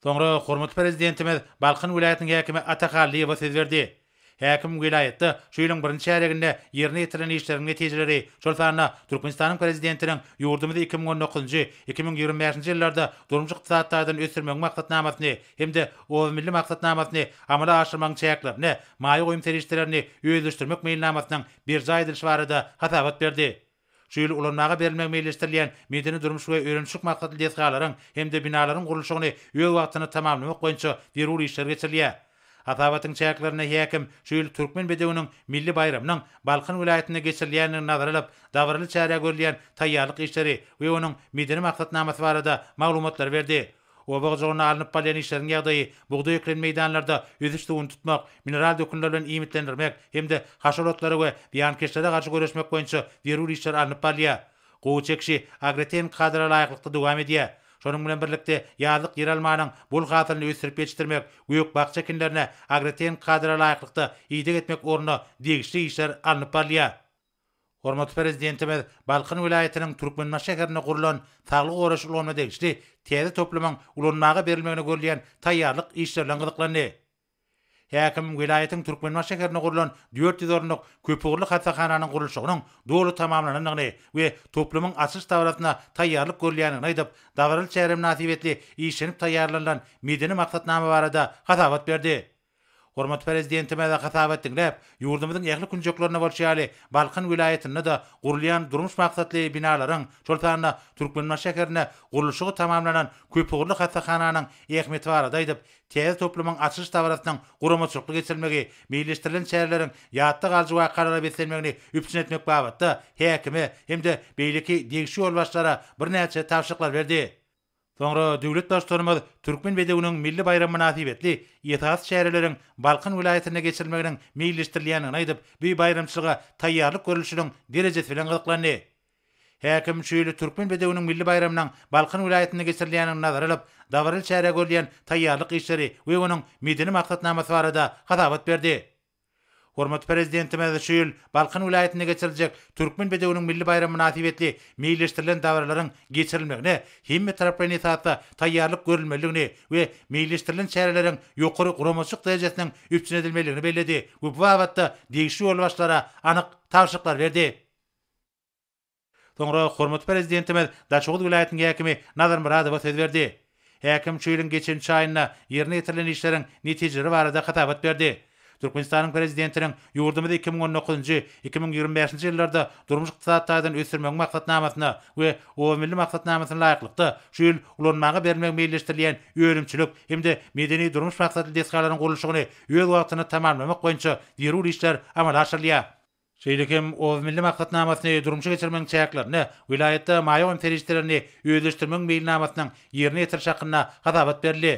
Soňra hormatly Prezidentimiz Balkan welaýatynyň häkimi Ata Hallyýewa söz berdi. Häkim welaýatda şu ýylyň birinji çärýeginde ýerine ýetirilen işleriň netijeleri, şol sanda Türkmenistanyň Prezidentiniň ýurdumyzy iki müň on dokuzynjy, iki müň ýigrimi bäşinji ýyllarda durmuş-ykdysady taýdan ösdürmegiň maksatnamasyny hem-de Oz milli maksatnamasyny amala aşyrmagyň çäklerinde maýa goýum serişdelerini özleşdirmek meýilnamasynyň berjaý edilişi barada hasabat berdi. Şu ýyl ulanmaga berilmegi meýilleşdirilýän medeni-durmuş we öýreniş maksatly desgalaryň hem-de binalaryň gurluşygyny öz wagtynda tamamlamak boýunça zerur işler geçirilýär. Hasabatyň çäklerinde häkim şu ýyl Türkmen bedewiniň milli baýramynyň Balkan welaýatynda geçirilýändigini nazara alyp, dabaraly çärä görülýän taýýarlyk işleri we onuň medeni maksatnamasy barada maglumatlary berdi. Oba hojalygynda alnyp barylýan işleriň ýagdaýy, bugdaý ekilen meýdanlarda ösüş suwuny tutmak, mineral dökünler bilen iýmitlendirmek hem-de haşal otlara we zyýankeşlere garşy göreşmek boýunça zerur işler alnyp barylýar. Gowy çekişi agrotehniki kadara laýyklykda dowam edýär. Şonuň bilen birlikde, ýazlyk ýeralmanyň bol hasylyny ösdürip ýetişdirmek, gök-bakja ekinlerine agrotehniki kadara laýyklykda ideg etmek ugrunda degişli işler alnyp barylýar. Hormatly Prezidentimiz Balkan welaýatynyň Türkmenbaşy şäherinde gurlan saglygy goraýyş ulgamyna degişli täze toplumyň ulanmaga berilmegine görülýän taýýarlyk işleri bilen gyzyklandy. Häkim welaýatyň Türkmenbaşy şäherinde gurlan dört ýüz orunlyk köpugurly hassahananyň gurluşygynyň doly tamamlanandygyny we toplumyň açylyş dabarasyna taýýarlyk görülýändigini aýdyp, dabaraly çäre mynasybetli işlenip taýýarlanylan medeni maksatnama barada hasabat berdi. Hormatly Prezidentimize hasabat diňläp, ýurdumyzyň ähli künjeklerinde bolşy ýaly, Balkan welaýatynda-da gurulýan durmuş maksatly binalaryň, şol sanda Türkmenbaşy şäherinde gurluşygy tamamlanan köpugurly hassahananyň ähmiýeti barada aýdyp, täze toplumyň açylyş dabarasynyň guramaçylykly geçirilmegi, meýilleşdirilen çäreleriň ýatda galyjy wakalara beslenmegini üpjün etmek babatda häkime hem-de beýleki degişli ýolbaşçylara birnäçe tabşyryklar berdi. Soňra döwlet Baştutanymyz Türkmen bedewiniň milli baýramy mynasybetli esasy çäreleriň Balkan welaýatynda geçirilmeginiň meýilleşdirilýändigini aýdyp, bu baýramçylyga taýýarlyk görlüşiniň derejesi bilen gyzyklandy. Häkim şu ýyl Türkmen bedewiniň milli baýramynyň Balkan welaýatynda geçirilýändigini nazara alyp, dabaraly çärä görülýän taýýarlyk işleri we onuň medeni maksatnamasy barada hasabat berdi. Hormatly Prezidentimiz şu ýyl Balkan welaýatynda geçiriljek Türkmen bedewiniň milli baýramy mynasybetli meýilleşdirilen dabaralaryň geçirilmegine hemmetaraplaýyn esasda taýýarlyk görülmelidigini we meýilleşdirilen çäreleriň ýokary guramaçylyk derejesiniň üpjün edilmelidigini belledi we bu babatda degişli ýolbaşçylara anyk tabşyryklar berdi. Soňra hormatly Prezidentimiz Daşoguz welaýatynyň häkimi Nazar Myradowa söz berdi. Häkim şu ýylyň geçençi aýynda ýerine ýetirilen işleriň netijeleri barada hasabat berdi. Türkmenistanyň Prezidentiniň ýurdumyzy iki müň on dokuzynjy, iki müň ýigrimi bäşinji ýyllarda durmuş-ykdysady taýdan ösdürmegiň maksatnamasyna we Obamilli maksatnamasyna laýyklykda şu ýyl ulanmaga berilmegi meýilleşdirilýän önümçilik hem-de medeni-durmuş maksatly desgalaryň gurluşygyny öz wagtynda tamamlamak boýunça zerur işler amala aşyrylýar. Şeýle hem Oz Milli maksatnamasyny durmuşa geçirmegiň çäklerinde welaýatda maýa goýum serişdelerini özleşdirmegiň meýilnamasynyň ýerine ýetirişi hakynda hasabat berildi.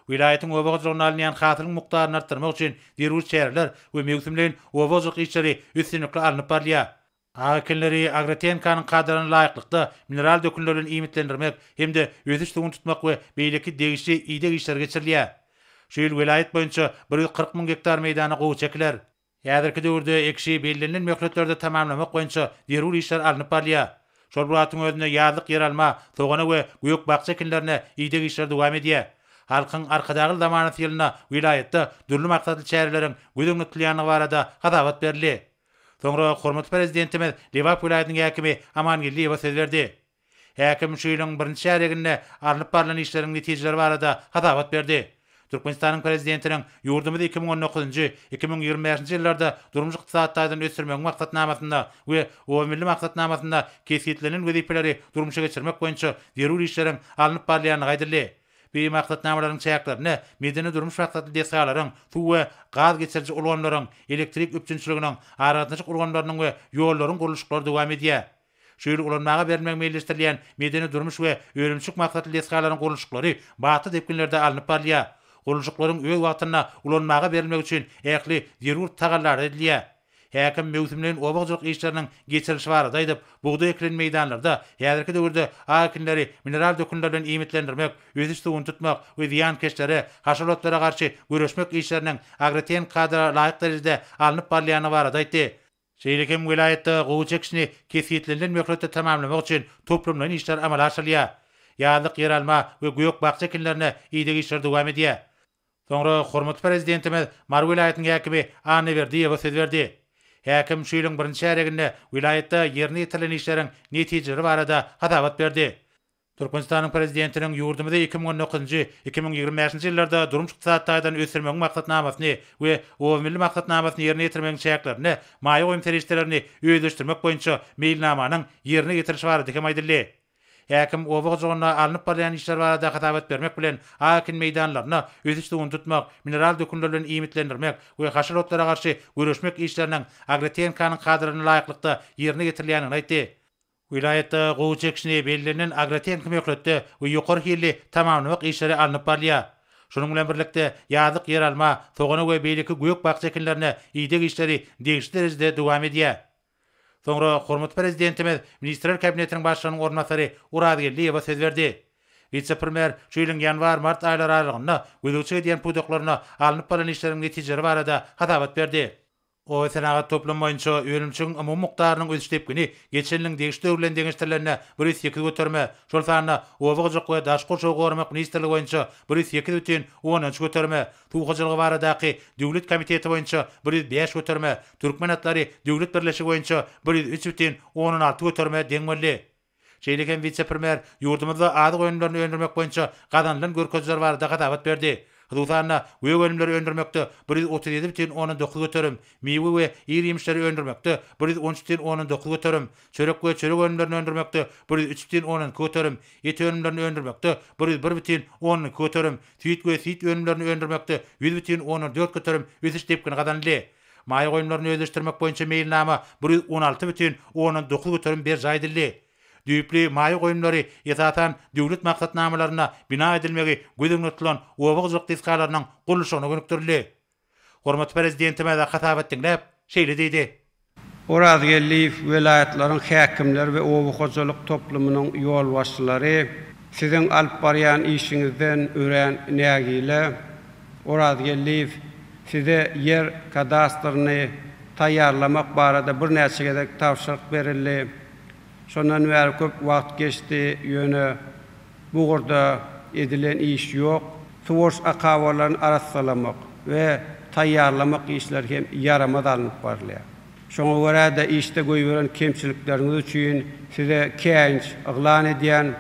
Welaýatyň oba hojalygynda alynýan hasylyň mukdaryny artdyrmak üçin zerur çäreler we möwsümleýin oba hojalyk işleri üstünlikli alnyp barylýar. Agy ekinleri Agrotehnikaň kadalaryna laýyklykda mineral dökünler bilen iýmitlendirmek hem-de ösüş suwuny tutmak we beýleki degişli ideg işleri geçirilýär. Şu ýyl welaýat boýunça bir ýüz kyrk müň gektar meýdana gowaça ekiler. Häzirki döwürde ekişi bellenilen möhletlerde tamamlamak boýunça zerur işler alnyp barylýar. Şol bir wagtyň özünde ýazlyk ýeralma, sogana we gök-bakja ekinlerine ideg işleri dowam edýär. Halkyň Arkadagly zamanasy ýylynda welaýatda dürli maksatly çäreleriň göz öňünde tutulýandygy barada hasabat berildi. Soňra hormatly Prezidentimiz Lebap welaýatynyň häkimi Amangeldiýewe söz berdi. Häkim şu ýylyň birinji çärýeginde alnyp barlan işleriň netijeleri barada hasabat berdi. Türkmenistanyň Prezidentiniň ýurdumyzy iki müň on dokuzynjy, iki müň ýigrimi bäşinji ýyllarda durmuş-ykdysady taýdan ösdürmegiň maksatnamasynda we Obamilli maksatnamasynda kesgitlenen wezipeleri durmuşa geçirmek boýunça zerur işleriň alnyp barylýandygy aýdyldy. Bi maksatnamalaryň çäklerinde medeni-durmuş maksatly desgalaryň, suw we gaz geçiriji ulgamlaryň, elektrik üpjünçiliginiň, aragatnaşyk ulgamlarynyň we ýollaryň gurluşyklary dowam edýär. Şu ýyl ulanmaga berilmegi meýilleşdirilýän medeni-durmuş we önümçilik maksatly desgalaryň gurluşyklary batly depginlerde alnyp barylýar. Gurluşyklaryň öz wagtynda ulanmaga berilmegi üçin ähli zerur tagallalar edilýär. Häkim möwsümleýin oba hojalyk işleriniň geçirilişi barada aýdyp, bugdaý ekilen meýdanlarda häzirki döwürde aw ekinleri mineral dökünler bilen iýmitlendirmek, ösüş suwuny tutmak we zyýankeşlere, haşalotlara garşy göreşmek işleriniň agrotehnik kadalara laýyk derejede alnyp barylýandygy barada aýtdy. Şeýle hem welaýatda gowy çekişini kesgitlenilen möhletde tamamlamak üçin toplumlaýyn işler amala aşyrylýar. Ýazlyk ýeralma we gök-bakja ekinlerine ideg işleri dowam edýär. Soňra hormatly Prezidentimiz Mary welaýatynyň häkimi Annaberdiýewa söz berdi. Häkim şu ýylyň birinji çärýeginde welaýatda ýerine ýetirilen işleriň netijeleri barada hasabat berdi. Türkmenistanyň Prezidentiniň ýurdumyzy iki müň on dokuzynjy, iki müň ýigrimi bäşinji ýyllarda durmuş-ykdysady taýdan ösdürmegiň maksatnamasyny we Obamilli maksatnamasyny ýerine ýetirmegiň çäklerinde maýa goýum serişdelerini özleşdirmek boýunça meýilnamanyň ýerine ýetirilişi barada hem aýdyldy. Häkim oba hojalygynda alnyp barylýan işler barada hasabat bermek bilen, a ekin meýdanlaryny ösüş suwuny tutmak, mineral dökünler bilen iýmitlendirmek we haşal otlara garşy göreşmek işleriniň agrotehnikanyň kadalaryna laýyklykda ýerine ýetirilýändigini aýtdy. Welaýatda gowy çekişine bellenilen agrotehniki möhletde we ýokary hilli tamamlamak işleri alnyp barylýar. Şunuň bilen birlikde, ýazlyk ýeralma, sogana we beýleki gök-bakja ekinlerine ideg işleri degişli derejede dowam edýär. Soňra hormatly Prezidentimiz Ministrler Kabinetiniň Başlygynyň orunbasary Orazgeldiýewa söz berdi. Wise-premýer şu ýylyň ýanwar-mart aýlary aralygynda gözegçilik edýän pudaklaryna alnyp barlan işleriň netijeleri barada hasabat berdi. Obasenagat toplumy boýunça önümçiigiň umumy mukdarynyň ösüş depgini geçen ýylyň degişli döwri bilen deňeşdirilende bir ýüz sekiz göterime, şol sanda Oba hojalyk we daşky gurşawy goramak ministrligi boýunça bir ýüz sekiz bütin ondan üç göterime, Suw hojalygy baradaky döwlet komiteti boýunça bir ýüz bäş göterime, Türkmen atlary döwlet birleşigi boýunça bir ýüz üç bütin ondan alty göterime deň boldy. Şeýle hem wise-premýer ýurdumyzda azyk önümlerini öndürmek boýunça gazanylan görkeziler barada hasabat berdi. Hususan-da, gök önümleri öndürmekde bir ýüz otuz ýedi bütin ondan dokuz göterim, miwe we ir-ýemişleri öndürmekde bir ýüz on üç bütin ondan dokuz göterim, çörek we çörek önümlerini öndürmekde bir ýüz üç bütin ondan iki göterim, et önümlerini öndürmekde bir ýüz bir bütin ondan iki göterim, süýt we süýt önümlerini öndürmekde ýüz bütin ondan dört göterim ösüş depgini gazanyldy. Maýa goýumlaryny özleşdirmek boýunça meýilnama bir ýüz on alty bütin ondan dokuz göterim berjaý edildi. Düýpli maýa goýumlary, esasan, döwlet maksatnamalarynda bina edilmegi göz öňünde tutulan oba hojalyk desgalarynyň gurluşygyna gönükdirildi. Hormatly Prezidentimiz hasabat diňläp, şeýle diýdi. Orazgeldiýew, welaýatlaryň häkimleri we oba hojalyk toplumynyň ýolbaşçylary, siziň alyp barýan işiňizden örän nägile. Orazgeldiýew, size ýer kadastryny taýýarlamak barada birnäçe gezek tabşyryk berildi. Şondan bäri köp wagt geçdi, ýöne bu ugurda edilen iş ýok. Suwaryş akabalaryny arassalamak we taýýarlamak işleri hem ýaramaz alnyp barylýar. Şoňa görä-de, işde goýberen kemçilikleriňiz üçin size käýinç yglan edýän.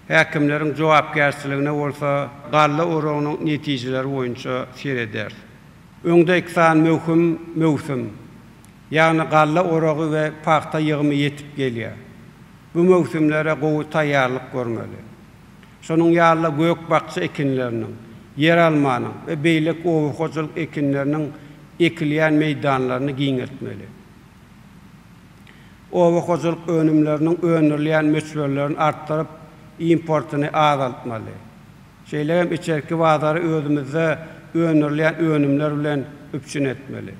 Häkimleriň jogapkärçiligine bolsa galla oragynyň netijeleri boýunça serederis. Öňde iki sany möhüm möwsüm, ýagny galla oragy we pagta ýygymy ýetip gelýär. Bu möwsümlere gowy taýýarlyk görmeli. Şonuň ýaly-da gök-bakja ekinleriniň, ýeralmanyň we beýleki oba hojalyk ekinleriniň ekilýän meýdanlaryny giňeltmeli. Oba hojalyk önümleriniň öndürilýän möçberlerini artdyryp, importyny azaltmaly. Şeýle hem içerki bazary özümizde öndürilýän önümler bilen üpjün etmeli.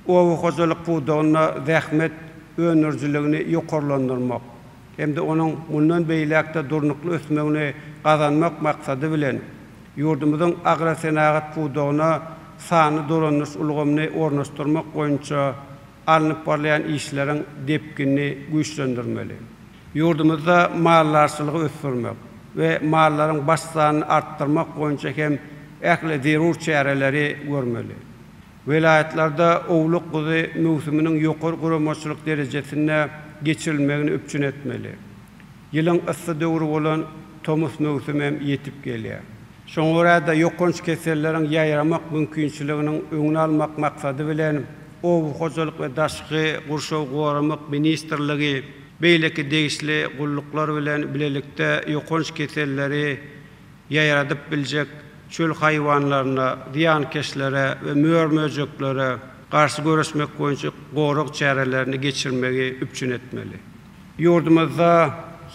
Oba hojalyk pudagynda zähmet öndürijiligini ýokarlandyrmak hem-de onuň mundan beýläk-de durnukly ösmegini gazanmak maksady bilen, ýurdumyzyň agrosenagat pudagyna sanly dolandyryş ulgamyny ornaşdyrmak boýunça alnyp barylýan işleriň depginini güýçlendirmeli. Ýurdumyzda maldarçylygy ösdürmek we mallaryň baş sanyny artdyrmak boýunça hem ähli zerur çäreleri görmeli. Welaýatlarda owluk-guzy möwsüminiň ýokary guramaçylyk derejesinde geçirilmegini üpjün etmeli. Ýylyň yssy döwri bolan tomus möwsümi hem ýetip gelýär. Şoňa görä-de, ýokanç keselleriň ýaýramak mümkinçiliginiň öňüni almak maksady bilen, Oba hojalyk we daşky gurşawy goramak ministrligi beýleki degişli gulluklar bilen bilelikde ýokanç keselleri ýaýradyp biljek çöl haýwanlaryna, zyýankeşlere we mör-möjeklere garşy göreşmek boýunça gorag çärelerini geçirmegi üpjün etmeli. Ýurdumyzda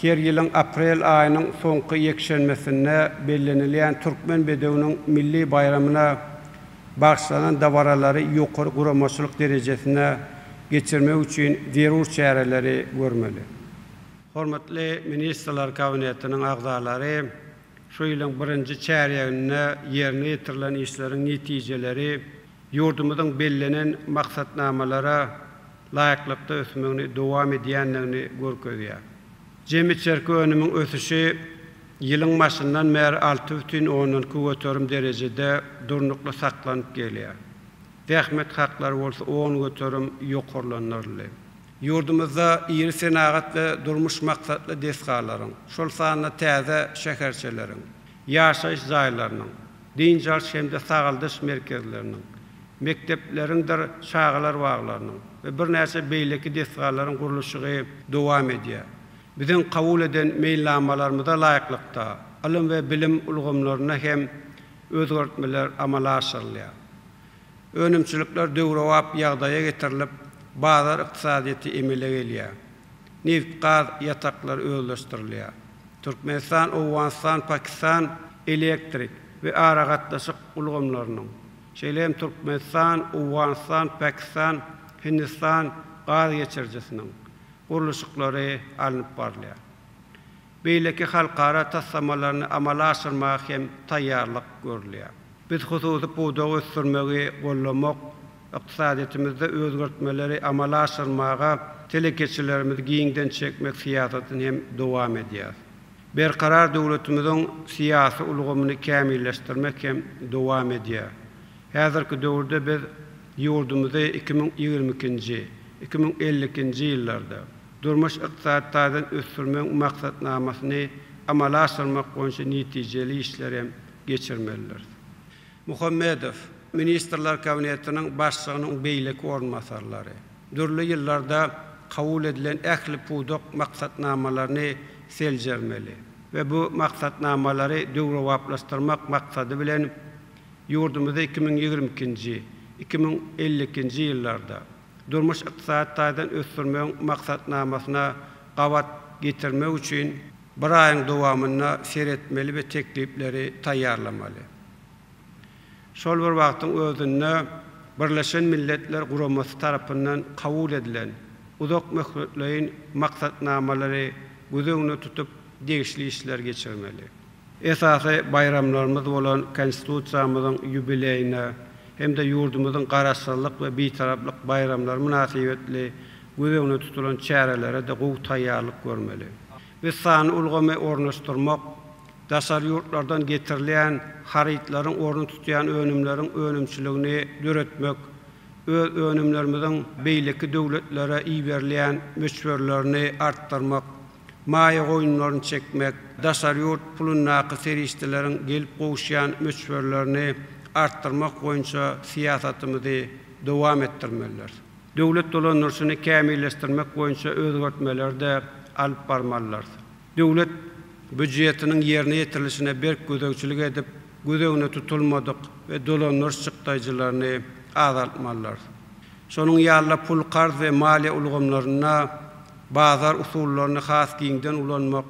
her ýylyň aprel aýynyň soňky ýekşenbesinde bellenilýän Türkmen bedewiniň milli baýramyna bagyşlanan dabaralary ýokary guramaçylyk derejesinde geçirmek üçin zerur çäreleri görmeli. Hormatly Ministrler Kabinetiniň agzalary şu ýylyň birinji çärýeginde ýerine ýetirilen işleriň netijeleri ýurdumyzyň bellenen maksatnamalara laýyklykda ösmegini dowam edýändigini görkezýär. Jemi içerki önümiň ösüşi ýylyň başyndan bäri alty bütin ondan iki göterim derejede durnukly saklanyp gelýär. Zähmet haklary bolsa on göterim ýokarlandyryldy. Ýurdumyzda iri senagat we durmuş maksatly desgalaryň, şol sanda täze şäherçeleriň, ýaşaýyş jaýlarynyň, dynç alyş hem-de sagaldyş merkezleriniň, mekdepleriňdir çagalar baglarynyň we birnäçe beýleki desgalaryň gurluşygy dowam edýär. Biziň kabul eden meýilnamalarymyza laýyklykda, ylym we bilim ulgamlarynda hem özgertmeler amala aşyrylýar. Önümçilikler döwrebap ýagdaýa getirilip, bazar ykdysadyýeti emele gelýär. Nebit-gaz ýataklary özleşdirilýär. Türkmenistan, Owganystan, Pakistan elektrik we aragatnaşyk ulgamlarynyň, şeýle hem Türkmenistan, Owganystan, Pakistan, Hindistan gaz geçirijisiniň gurluşyklary alnyp barylýar. beýleki halkara taslamalaryny amala aşyrmaga hem taýýarlyk görülýär. Biz hususy pudagy ösdürmegi goldamak, ykdysadyýetimizde özgertmeleri amala aşyrmaga telekeçilerimizi giňden çekmek syýasatyny hem dowam edýäris. Berkarar döwletimiziň syýasy ulgamyny kämilleşdirmek hem dowam edýär. Häzirki döwürde biz ýurdumyzy iki müň ýigrimi ikinji, iki müň elli ikinji ýyllarda, Durmuş-ykdysady taýdan ösdürmegiň maksatnamasyny amala aşyrmak boýunça netijeli işleri hem geçirmelidiris. Muhammedow, Ministrler Kabinetiniň Başlygynyň beýleki orunbasarlary, dürli ýyllarda kabul edilen ähli pudak maksatnamalaryny seljermeli we bu maksatnamalary döwrebaplaşdyrmak maksady bilen, ýurdumyzy iki müň ýigrimi ikinji, iki müň elli ikinji ýyllarda, durmuş-ykdysady taýdan ösdürmegiň maksatnamasyna gabat getirmek üçin bir aýyň dowamynda seretmeli we teklipleri taýýarlamaly. Şol bir wagtyň özünde Birleşen Milletler Guramasy tarapyndan kabul edilen uzak möhletleýin maksatnamalary göz öňünde tutup degişli işleri geçirmeli. Esasy baýramlarymyz bolan Konstitusiýamyzyň ýubileýine hem-de ýurdumyzyň Garaşsyzlyk we Bitaraplyk baýramlary mynasybetli göz öňünde tutulan çärelere-de gowy taýýarlyk görmeli. Biz sanly ulgamy ornaşdyrmak, daşary ýurtlardan getirilýän harytlaryň ornuny tutýan önümleriň önümçiligini döretmek, öz önümlerimiziň beýleki döwletlere iberilýän möçberlerini artdyrmak, maýa goýumlaryny çekmek, daşary ýurt pulundaky serişdeleriň gelip gowuşýan möçberlerini artdyrmak boýunça syýasatymyzy dowam etdirmelidiris. Döwlet dolandyryşyny kämilleşdirmek boýunça özgertmeleri-de alyp barmalydyrs. Döwlet býujetiniň ýerine ýetirilişine berk gözegçilik edip, göz öňüne tutulmadyk we dolandyryş çykdaýjylaryny azaltmalydyrs. Şonuň ýaly-da pul-karz we maliýe ulgamlarynda, Bazar usullaryny has giňden ulanmak,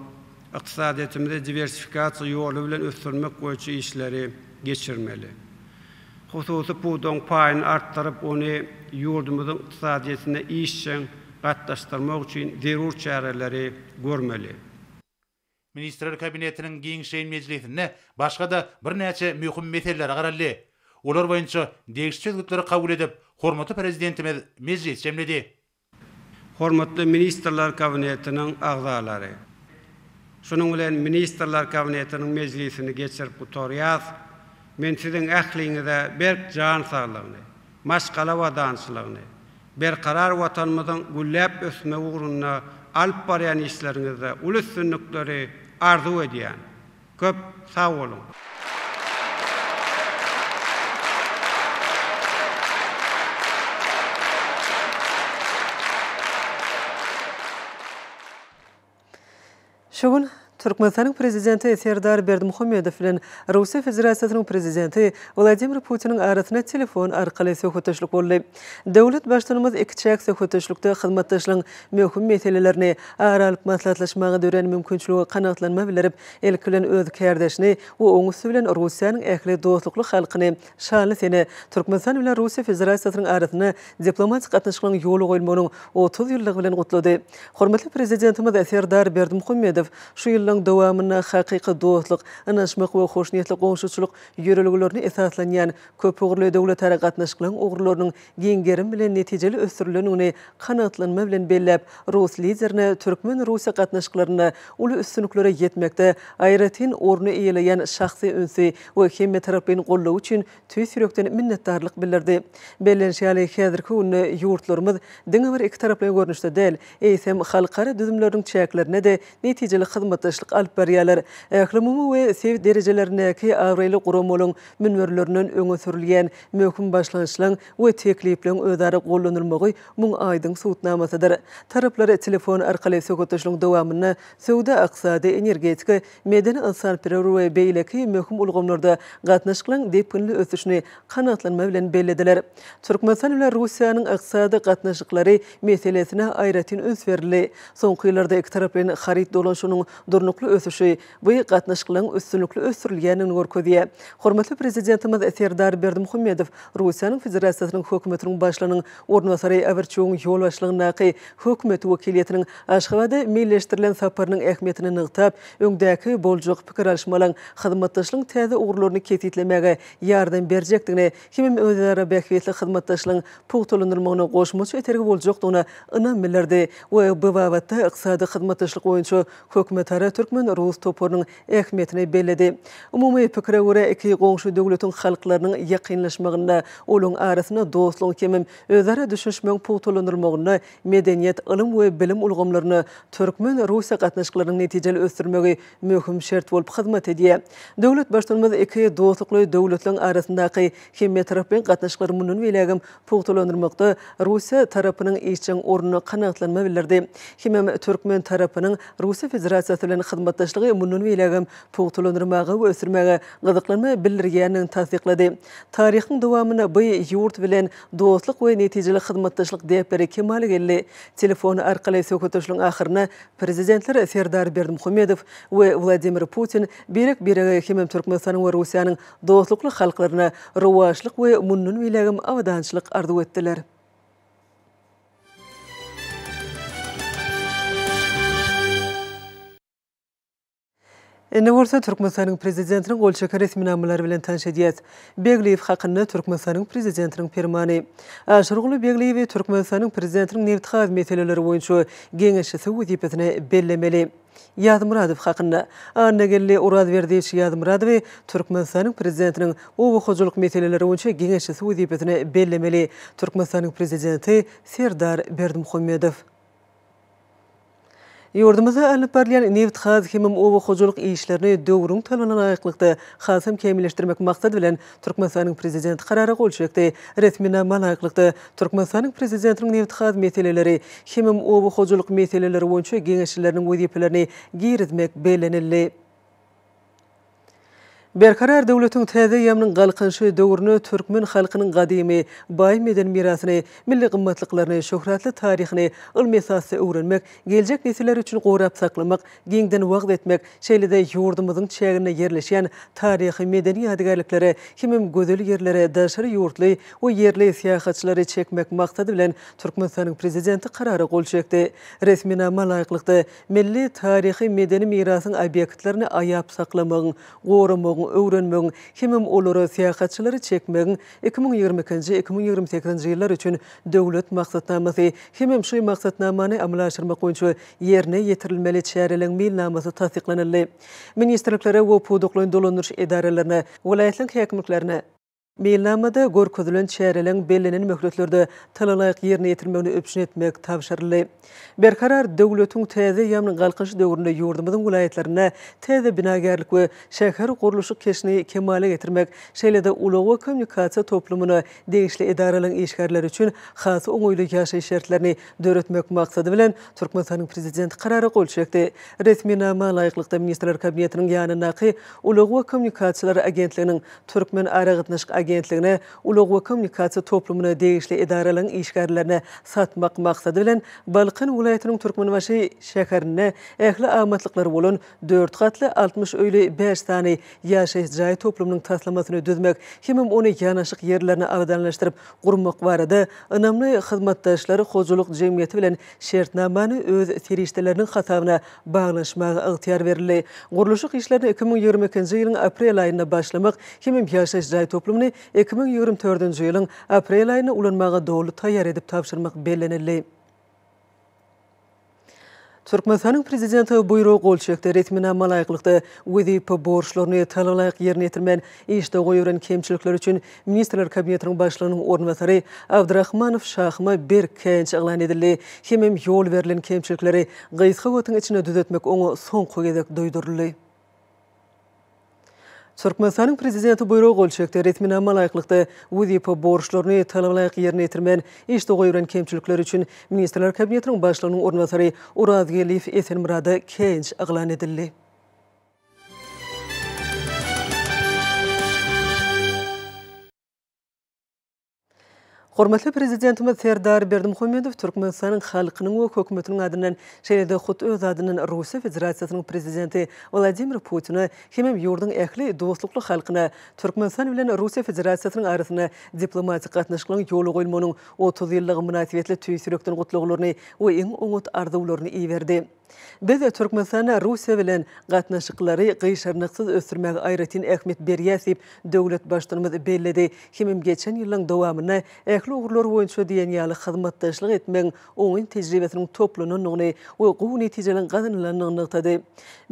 ykdysadyýetimizi diwersifikasiýa ýoly bilen ösdürmek boýunça işleri geçirmeli. Hususy pudagyň paýyny artdyryp, ony ýurdumyzyň ykdysadyýetine işjeň gatnaşdyrmak üçin zerur çäreleri görmeli. Ministrler Kabinetiniň giňişleýin mejlisinde başga-da birnäçe möhüm meselelere garaldy. Olar boýunça degişli çözgütleri kabul edip, hormatly Prezidentimiz mejlis jemledi. Hormatly Ministrler Kabinetiniň agzalary! Şunuň bilen Ministrler Kabinetiniň mejlisini geçirip gutarýas. Men siziň ähliňize berk jan saglygyny, maşgala abadançylygyny, berkarar Watanymyzyň gülläp ösmegi ugrunda alyp barýan işleriňizde uly üstünlikleri arzuw edýän. Köp sag boluň! Şu gün Türkmenistanyň Prezidenti Serdar Berdimuhamedow bilen Russiýa Federasiýasynyň Prezidenti Wladimir Putiniň arasynda telefon arkaly söhbetdeşlik boldy. Döwlet Baştutanymyz ikiçäk söhbetdeşlikde hyzmatdaşlygyň möhüm meselelerini ara alyp maslahatlaşmaga dörän mümkinçiligi kanagatlanma bildirip, ilki bilen öz kärdeşini we oňüsti bilen Russiýanyň ähli dostlukly halkyny Şanly sene Türkmenistan bilen Russiýa Federasiýasynyň arasynda diplomatik gatnaşyklaryň ýola goýulmagynyň otuz ýyllygy bilen gutlady. Hormatly Prezidentimiz Serdar Berdimuhamedow şu ýyllaryň dowamynda hakyky dostluk, ynanyşmak we hoşniýetli goňşuçylyk ýörelgelerine esaslanýan köpugurly döwletara gatnaşyklaryň ugurlarynyň giň gerim bilen netijeli ösdürilendigini kanagatlanma bilen belläp, rus Liderine türkmen-russiýa gatnaşyklarynda uly üstünliklere ýetmekde aýratyn orny eýeleýän şahsy ünsi we hemmetaraplaýyn goldawy üçin tüýs ýürekden minnetdarlyk bildirdi. Bellenişi ýaly, häzirki günde ýurtlarymyz diňe bir ikitaraplaýyn görnüşde däl, eýsem, halkara düzümleriniň çäklerinde-de netijeli hyzmatdaşlyk alyp barýarlar. Ählumumy we sebit derejelerindäki abraýly guramalaryň münberlerinden öňe sürülýän möhüm başlangyçlaryň we teklipleriň özara gollanylmagy muň aýdyň subutnamasydyr. Taraplar telefon arkaly söhbetdeşligiň dowamynda söwda, ykdysady, energetika, medeni-ynsanperwer we beýleki möhüm ulgamlarda gatnaşyklaryň depginli ösüşini kanagatlanma bilen bellediler. Türkmenistan bilen Russiýanyň ykdysady gatnaşyklary meselesine aýratyn üns berildi. Soňky ýyllarda ikitaraplaýyn haryt dolanşygynyň durnukly ösüşi bu gatnaşyklaryň üstünlikli ösdürilýändigini görkezýär. Hormatly Prezidentimiz Serdar Berdimuhamedow Russiýanyň Federasiýasynyň Hökümetiniň Başlygynyň orunbasary Awerçugyň ýolbaşçylygyndaky Hökümet wekiliýetiniň Aşgabada meýilleşdirilen saparynyň ähmiýetini nygtap, öňdäki boljak pikir alyşmalaryň hyzmatdaşlygyň täze ugurlaryny kesgitlemäge ýardam berjekdigine hemem özara bähbitli hyzmatdaşlygyň pugtalandyrylmagyna goşmaça itergi boljakdygyna ynam bildirdi we bu babatda Ykdysady hyzmatdaşlyk boýunça hökümetara türkmen-rus toparynyň ähmiýetini belledi. Umumy pikire görä, iki goňşy döwletiň halklarynyň ýakynlaşmagynda, olaryň arasynda dostlugyň hemem özara düşünişmegiň pugtalandyrylmagynda medeniýet, ylym we bilim ulgamlaryny, türkmen-russiýa gatnaşyklarynyň netijeli ösdürmegi möhüm şert bolup hyzmat edýär. Döwlet Baştutanymyz iki dostlukly döwletleriň arasyndaky hemmetaraplaýyn gatnaşyklary mundan beýlägem pugtalandyrmakda Russiýa tarapynyň işjeň ornuna kanagatlanma bildirdi. Hemem türkmen tarapynyň Russiýa Federasiýasy bilen hyzmatdaşlygy mundan beýlägem pugtalandyrmaga we ösdürmäge gyzyklanma bildirýändigini tassyklady. Taryhyň dowamynda bu ýurt bilen dostluk we netijeli hyzmatdaşlyk däpleri kemala geldi. Telefon arkaly söhbetdeşligiň ahyrynda Prezidentler Serdar Berdimuhamedow we Wladimir Putin birek-birege hemem Türkmenistanyň we Russiýanyň dostlukly halklaryna rowaçlyk we mundan beýlägem abadançylyk arzuw etdiler. Indi bolsa Türkmenistanyň Prezidentiniň gol çeken resminamalary bilen tanyş edýäs. Begliýew hakynda Türkmenistanyň Prezidentiniň Permany. Aşyrguly Begliýewi Türkmenistanyň Prezidentiniň nebit-gaz meseleleri boýunça geňeşçisi wezipesine bellemeli. Ýazmyradow hakynda. Annageldi Orazberdiýewiç Ýazmyradowy Türkmenistanyň Prezidentiniň oba hojalyk meseleleri boýunça geňeşçisi wezipesine bellemeli Türkmenistanyň Prezidenti Serdar Berdimuhamedow. Ýurdumyzda alnyp barylýan nebitgaz hemem oba hojalyk işlerini döwrüň talabyna laýyklykda hasam kämilleşdirmek maksady bilen, Türkmenistanyň Prezidenti Karara gol çekdi. Resminama laýyklykda, Türkmenistanyň Prezidentiniň nebitgaz meseleleri hemem oba hojalyk meseleleri boýunça geňeşçileriniň wezipelerini girizmek bellenildi. Berkarar döwletiň täze ýamynyň Galkynyşy döwrüne türkmen halkynyň gadymy, baý medeni mirasyny, milli gymmatlyklaryny, şöhratly taryhyny ylmy esasda öwrenmek, geljek nesiller üçin gorap saklamak, giňden wagyz etmek, şeýle-de ýurdumyzyň çäginde ýerleşýän taryhy-medeni ýadygärliklere hemem gözel ýerlere daşary ýurtly we ýerli syýahatçylary çekmek maksady bilen Türkmenistanyň Prezidenti Karara gol çekdi. Resminama laýyklykda, Milli taryhy-medeni mirasyň obýektlerini aýap saklamagyň, goramagyň, öwrenmegiň hemem olara syýahatçylary çekmegiň iki müň ýigrimi ikinji, iki müň ýigrimi sekizinji ýyllar üçin Döwlet maksatnamasy hemem şu maksatnamany amala aşyrmak boýunça ýerine ýetirilmeli çäreleriň meýilnamasy tassyklanyldy. Ministrliklere we pudaklaýyn dolandyryş edaralaryna, welaýatlaryň häkimliklerine, Meýilnamada görkezilen çäreleriň bellenen möhletlerde talalaýyk ýerine ýetirilmegini üpjün etmek tabşyryldy. Berkarar döwletiň täze ýaňy galkynyş döwründe ýurdumyzyň welaýatlarynda täze binagärlik we şähergurluşyk keşini kemala getirmek, şeýle-de ulag we kommunikasiýa toplumyna degişli edaralaryň işgärleri üçin has oňaýly ýaşaýyş şertlerini döretmek maksady bilen, Türkmenistanyň Prezidenti Karara gol çekdi. Resminama laýyklykda, Ministrler Kabinetiniň ýanyndaky Ulag we kommunikasiýalar agentliginiň Türkmenaragatnaşyk agentligine, ulag we kommunikasiýa toplumyna degişli edaralaryň işgärlerine satmak maksady bilen, Balkan welaýatynyň Türkmenbaşy şäherinde ähli amatlyklary bolan dört gatly, altmyş öýli bäş sany ýaşaýyş jaý toplumynyň taslamasyny düzmek hemem ony ýanaşyk ýerlerini abadanlaşdyryp gurmak barada Ynamly hyzmatdaşlar hojalyk jemgyýeti bilen şertnamany öz serişdeleriniň hasabyna baglaşmaga ygtyýar berildi. Gurluşyk işlerine iki müň ýigrimi ikinji ýylyň aprel aýynda başlamak hemem ýaşaýyş jaý toplumyny iki müň ýigrimi dördünji ýylyň aprel aýynda ulanmaga doly taýýar edip tabşyrmak bellenildi. Türkmenistanyň Prezidenti Buýruga gol çekdi. Resminama laýyklykda, wezipe borçlaryny talabalaýyk ýerine ýetirmän, işde goýberen kemçilikleri üçin Ministrler Kabinetiniň Başlygynyň orunbasary Abdrahmanow Şahyma berk käýinç yglan edildi. Hemem ýol berlen kemçilikleri gysga wagtyň içinde düzetmek oňa soňky gezek duýduryldy. Türkmenistanyň Prezidenti buýruga gol çekdi. Resminama laýyklykda, wezipe borçlaryny talabalaýyk ýerine ýetirmän, işde goýberen kemçilikleri üçin Ministrler Kabinetiniň Başlygynyň orunbasary Orazgeldiýew Esenmyrada käýinç yglan edildi. Hormatly Prezidentimiz Serdar Berdimuhamedow Türkmenistanyň halkynyň we Hökümetiniň adyndan, şeýle-de hut öz adyndan Russiýa Federasiýasynyň Prezidenti Wladimir Putine hemem ýurduň ähli dostlukly halkyna Türkmenistan bilen Russiýa Federasiýasynyň arasynda diplomatik gatnaşyklaryň ýola goýulmagynyň otuz ýyllygy mynasybetli tüýs ýürekden gutlaglaryny we iň oňat arzuwlaryny iberdi. Biz Türkmenistana Russiýa bilen gatnaşyklary gyşarnyksyz ösdürmäge aýratyn ähmiýet berýäs diýip, döwlet Baştutanymyz belledi. Hemem geçen ýyllaryň dowamynda ähli ugurlar boýunça diýen ýaly hyzmatdaşlyk etmegiň oňyn tejribesiniň toplanandygyny we gowy netijeleň gazanylandygyny nygtady.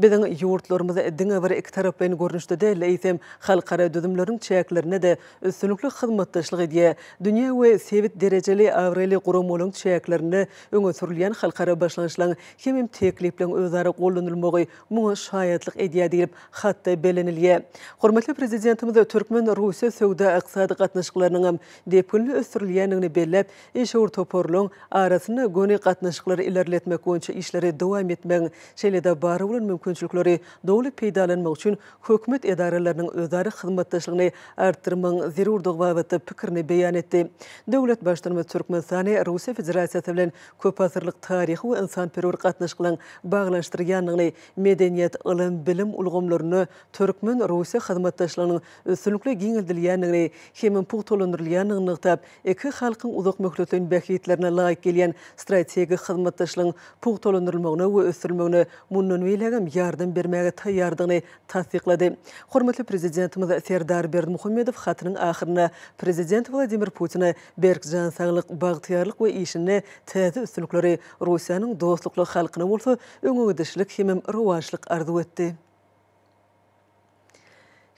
Biziň ýurtlarymyz diňe bir ikitaraplaýyn görnüşde däl-de, eýsem, halkara düzümleriniň çäklerinde-de üstünlikli hyzmatdaşlyk edýär, dünýä we sebit derejeli abraýly guramalaryň çäklerinde Öňe sürülýän halkara başlangyçlaryň hemem teklipleriň özara gollanylmagy muňa şaýatlyk edýär diýlip, hatda bellenilýär. Hormatly Prezidentimiz türkmen-russiýa söwda-ykdysady gatnaşyklarynyňam depginli ösdürilýändigini belläp, işewür toparlaryň arasynda göni gatnaşyklary ilerletmek boýunça işleri dowam etmegiň, şeýle-de bar bolan mümkinçilikleri doly peýdalanmak üçin hökümet edaralarynyň özara hyzmatdaşlygyny artdyrmagyň zerurdygy babatda pikirini beýan etdi. Döwlet Baştutanymyz Türkmenistany Russiýa Federasiýasy bilen köpasyrlyk taryhy we ynsanperwer gatnaşyklaryň baglanyşdyrýandygyny, medeniýet, ylym, bilim ulgamlarynda türkmen-russiýa hyzmatdaşlygynyň üstünlikli giňeldilýändigini hem pugtalandyrylýandygyny nygtap, Iki halkyň uzak möhletleýin bähbitlerine laýyk gelýän strategik hyzmatdaşlygyň pugtalandyrylmagyna we ösdürilmegine mundan beýlägem ýardam bermäge taýýardygyny tassyklady. Hormatly Prezidentimiz Serdar Berdimuhamedow hatynyň ahyrynda Prezident Wladimir Putine berk jan saglyk, bagtyýarlyk we işinde täze üstünlikleri, Russiýanyň dostlukly halkyna bolsa öňegidişlik hemem rowaçlyk arzuw etdi.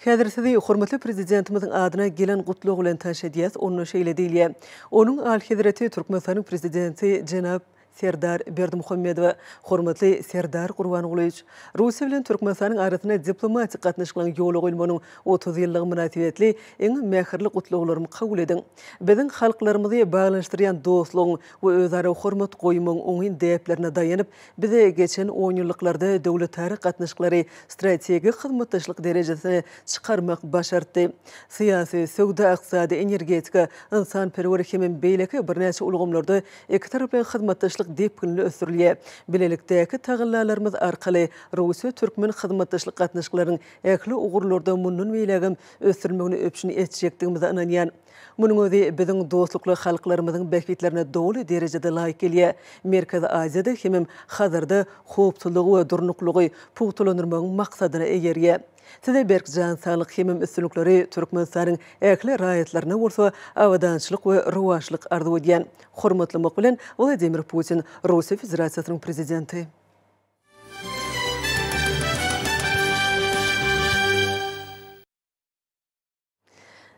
Häzir sizi hormatly Prezidentimiziň adyna gelen Gutlag bilen tanş edýäs, onda şeýle diýilýär, Onuň Alyhezreti Türkmenistanyň Prezidenti jenap Serdar Berdimuhamedowa, Hormatly Serdar Gurbangulyýewiç! Russiýa bilen Türkmenistanyň arasynda diplomatik gatnaşyklaryň ýola goýulmagynyň otuz ýyllygy mynasybetli iň mähirli gutlaglarymy kabul ediň! Biziň halklarymyzy baglanyşdyrýan dostlugyň we özara hormat goýmagyň oňyn däplerine daýanyp, Biz geçen onýyllyklarda döwletara gatnaşyklary strategik hyzmatdaşlyk derejesine çykarmak başartdy. Syýasy, söwda-ykdysady, energetika, ynsanperwer hemem beýleki birnäçe ulgamlarda ikitaraplaýyn hyzmatdaşlyk depginli ösdürilýär. Bilelikdäki tagallalarymyz arkaly russiýa-türkmen hyzmatdaşlyk gatnaşyklarynyň ähli ugurlarda mundan beýlägem ösdürilmegini üpjün etjekdigimize ynanýan. Munuň özi biziň dostlukly halklarymyzyň bähbitlerine doly derejede laýyk gelýär. Merkezi Aziýada hemem Hazarda howpsuzlygy we durnuklylygy pugtalandyrmagyň maksadyna eýerýär. Size berk jan saglyk hemem üstünlikleri, Türkmenistanyň ähli raýatlaryna bolsa abadançylyk we rowaçlyk arzuw edýän. Hormatlamak bilen, Wladimir Putin, Russiýa Federasiýasynyň Prezidenti.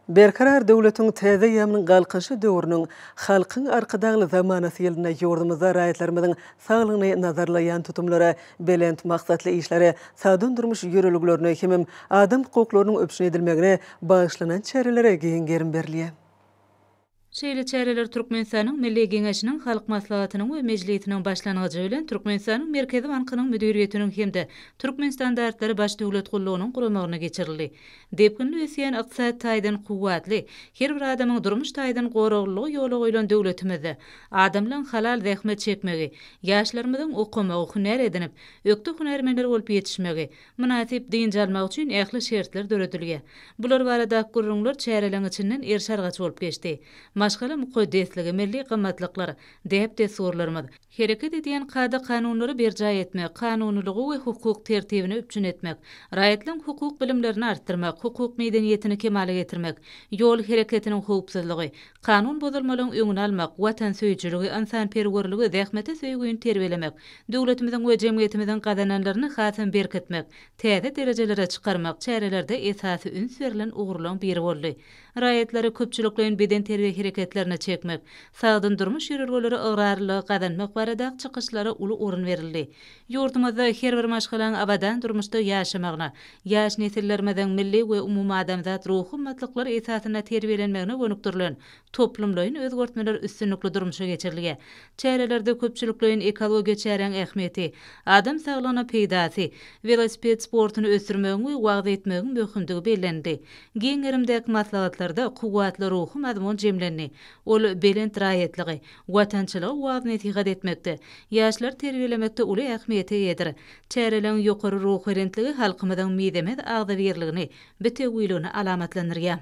Berkarar döwletiň täze ýamynyň Galkynyşy döwrüniň Halkyň Arkadagly zamanasy ýylynda ýurdumyzda raýatlarymyzyň saglygyny nazarlaýan tutumlary, belent maksatly işleri, sagdyn durmuş ýörelgelerine hemem adam hukuklarynyň üpjün edilmegine bagyşlanan çärelere giň gerim berilýär. Şeýle çäreler Türkmenistanyň Milli Geňeşiniň Halk Maslahatynyň we Mejlisiniň başlangyjy bilen Türkmenistanyň Merkezi bankynyň müdiriýetiniň hem-de Türkmenstandartlary baş döwlet gullugynyň guramagynda geçirildi. Depginli ösýän ykdysady taýdan kuwwatly, her bir adamyň durmuş taýdan goraglylygy ýola goýlan döwletimizde adamlaryň halal zähmet çekmegi, ýaşlarymyzyň okamagy, hünär edinip, ökde hünärmenler bolup ýetişmegi, mynasyp dynç almak üçin ähli şertler döredilýär. Bular baradaky gürrüňler çäreleň içinden erş-argaç bolup geçdi. Maşgala mukaddesligi, milli gymmatlyklar, däp-dessurlarymyz, hereket edýän kada-kanunlary berjaý etmek, kanunylygy we hukuk tertibini üpjün etmek, raýatlaryň hukuk bilimlerini artdyrmak, hukuk medeniýetini kemala getirmek, ýol hereketiniň howpsuzlygy, Kanun bozulmalaryň öňüni almak, watansöýüjiligi, ynsanperwerligi, zähmete söýgini terbiýelemek, döwletimiziň we jemgyýetimiziň gazananlaryny hasam berkitmek, täze derejelere çykarmak çärelerde esasy üns berlen ugurlaryň biri boldy. Raýatlary köpçülikleýin bedenterbiýe hereketlerine çekmek, sagdyn durmuş ýörelgeleri ygrarlylygy gazanmak barada çykyşlara uly orun berildi. Ýurdumyzda her bir maşgalaň abadan durmuşda ýaşamagyna, ýaş nesillerimiziň milli we umumadamzat ruhy gymmatlyklar esasynda terbiýelenmegine gönükdirilen toplumlaýyn özgertmeler üstünlikli durmuşa geçirilýär. Çärelerde köpçülikleýin ekologiýa çäräň ähmiýeti, adam saglygyna peýdasy, welosiped sportuny ösdürmegiň we wagyz etmegiň möhümdigi bellenildi. Giň gerimdäki maslahatlarda kuwwatly ruhy mazmun jemlendi. Ol belent raýatlygy, Watançylygy waaz-nesihat etmekde, ýaşlary terbiýelemekde uly ähmiýete eýedir. Çäreleň ýokary ruhubelentligi halkymyzyň mizemez agzybirligini, bitewüligini alamatlandyrýar.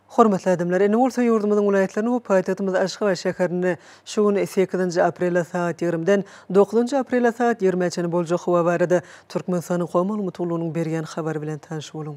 Hormatly adamlar, indi bolsa ýurdumyzyň welaýatlaryny we paýtagtymyz Aşgabat şäherini şu gün sekizinji aprele sagat ýigrimden dokuzynjy aprele sagat ýigrimä çenli boljak howa barada Türkmenistanyň Goý maglumat gullugynyň berýän habary bilen tanyş boluň.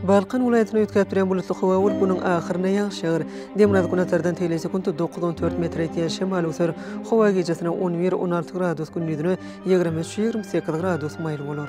Balkan welaýatyny üýtgäp durýan bulutly howa bolup, günüň ahyrynda ýagyş ýagar. Demirgazyk-günbatardan tegelýän sekuntda dokuz, on dört metr ýetýän şemal öser. Howa gijesine on bir, on alty gradus, gündizine ýigrimi üç, ýigrimi sekiz gradus maýyl bolar.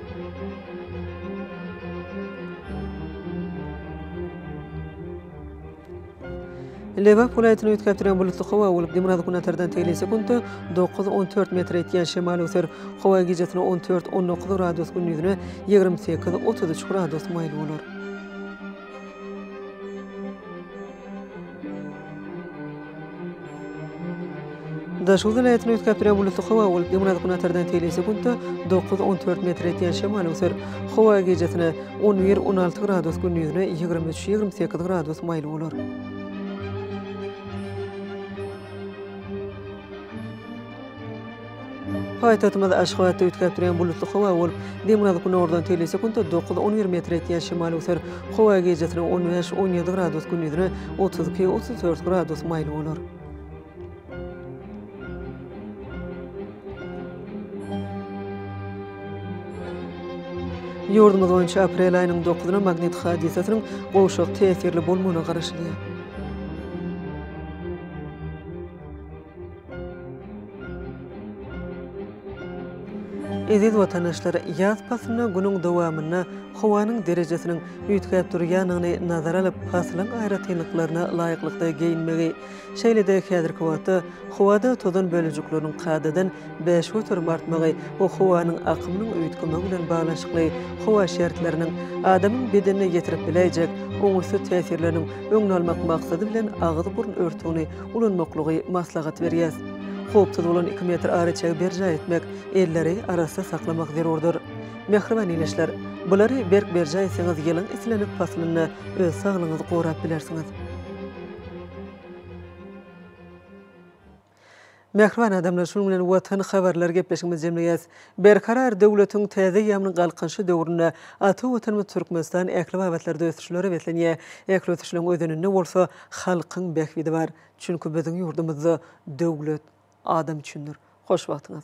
Lebap welaýatyny üýtgäp duran bulutly howa bolup, demirgazyk-günbatardan tegelýän sekuntda dokuz, on dört metr etýän şemal öser. Howa gijasine on dört, on dokuz gradus, gündizine ýigrimi sekiz, otuz üç gradus maýyl bolar. Daşoguz welaýatynyň üýtgäpdirýän buluty howa bolup, ýygnanyp günortadan teýle sekuntda dokuz-on dört metr etýän şemal öwser. Howa gijasine on bir-on alty gradus, gündizine ýigrimi üç-ýigrimi sekiz gradus maýyl bolar. Paýtagtymyz Aşgabatda üýtgäp durýan bulutly howa bolup, demirgazyk-günordan tegelýse künde dokuz, on bir metr etýän şemal öser. Howa gijesine on bäş, on ýedi gradus, gündizine otuz iki, otuz dört gradus maýyl bolar. Ýurdumyz boýunça aprel aýynyň dokuzyna magnit hadysasynyň gowşak täsirli bolmagyna garaşylýar. Eziz watandaşlar, ýaz paslyna günüň dowamynda howanyň derejesiniň üýtgäp durýandygyny nazara alyp, paslyň aýratynlyklaryna laýyklykda geýinmegi, şeýle-de häzirki wagtda howada tozan bölejikleriniň kadadan bäş göterim artmagy we howanyň akymynyň üýtgemegi bilen baglanyşykly howa şertleriniň adamyň bedenine ýetirip biläýjek oňaýsyz täsirleriniň öňüni almak maksady bilen agyz-burun örtügini ulanmaklygy maslahat berýär. Howpsuz bolan iki metr araçägi berjaý etmek, elleri arassa saklamak zerurdyr. Mähriban ildeşler! Bulary berk berjaý etseňiz ýylyň islendik paslynda öz saglygyňyzy gorap bilersiňiz. Mähriban adamlar şunuň bilen watan habarlary gepleşigimizi jemleýäs. Berkarar döwletiň täze ýamynyň Galkynyşy döwründe ata Watanymyz Türkmenistan ähli babatlarda ösüşlere beslenýär. Ähli ösüşleriň özeninde bolsa halkyň bähbidi bar. Çünki biziň ýurdumyzda döwlet adam üçindir. Hoş wagtyňyz.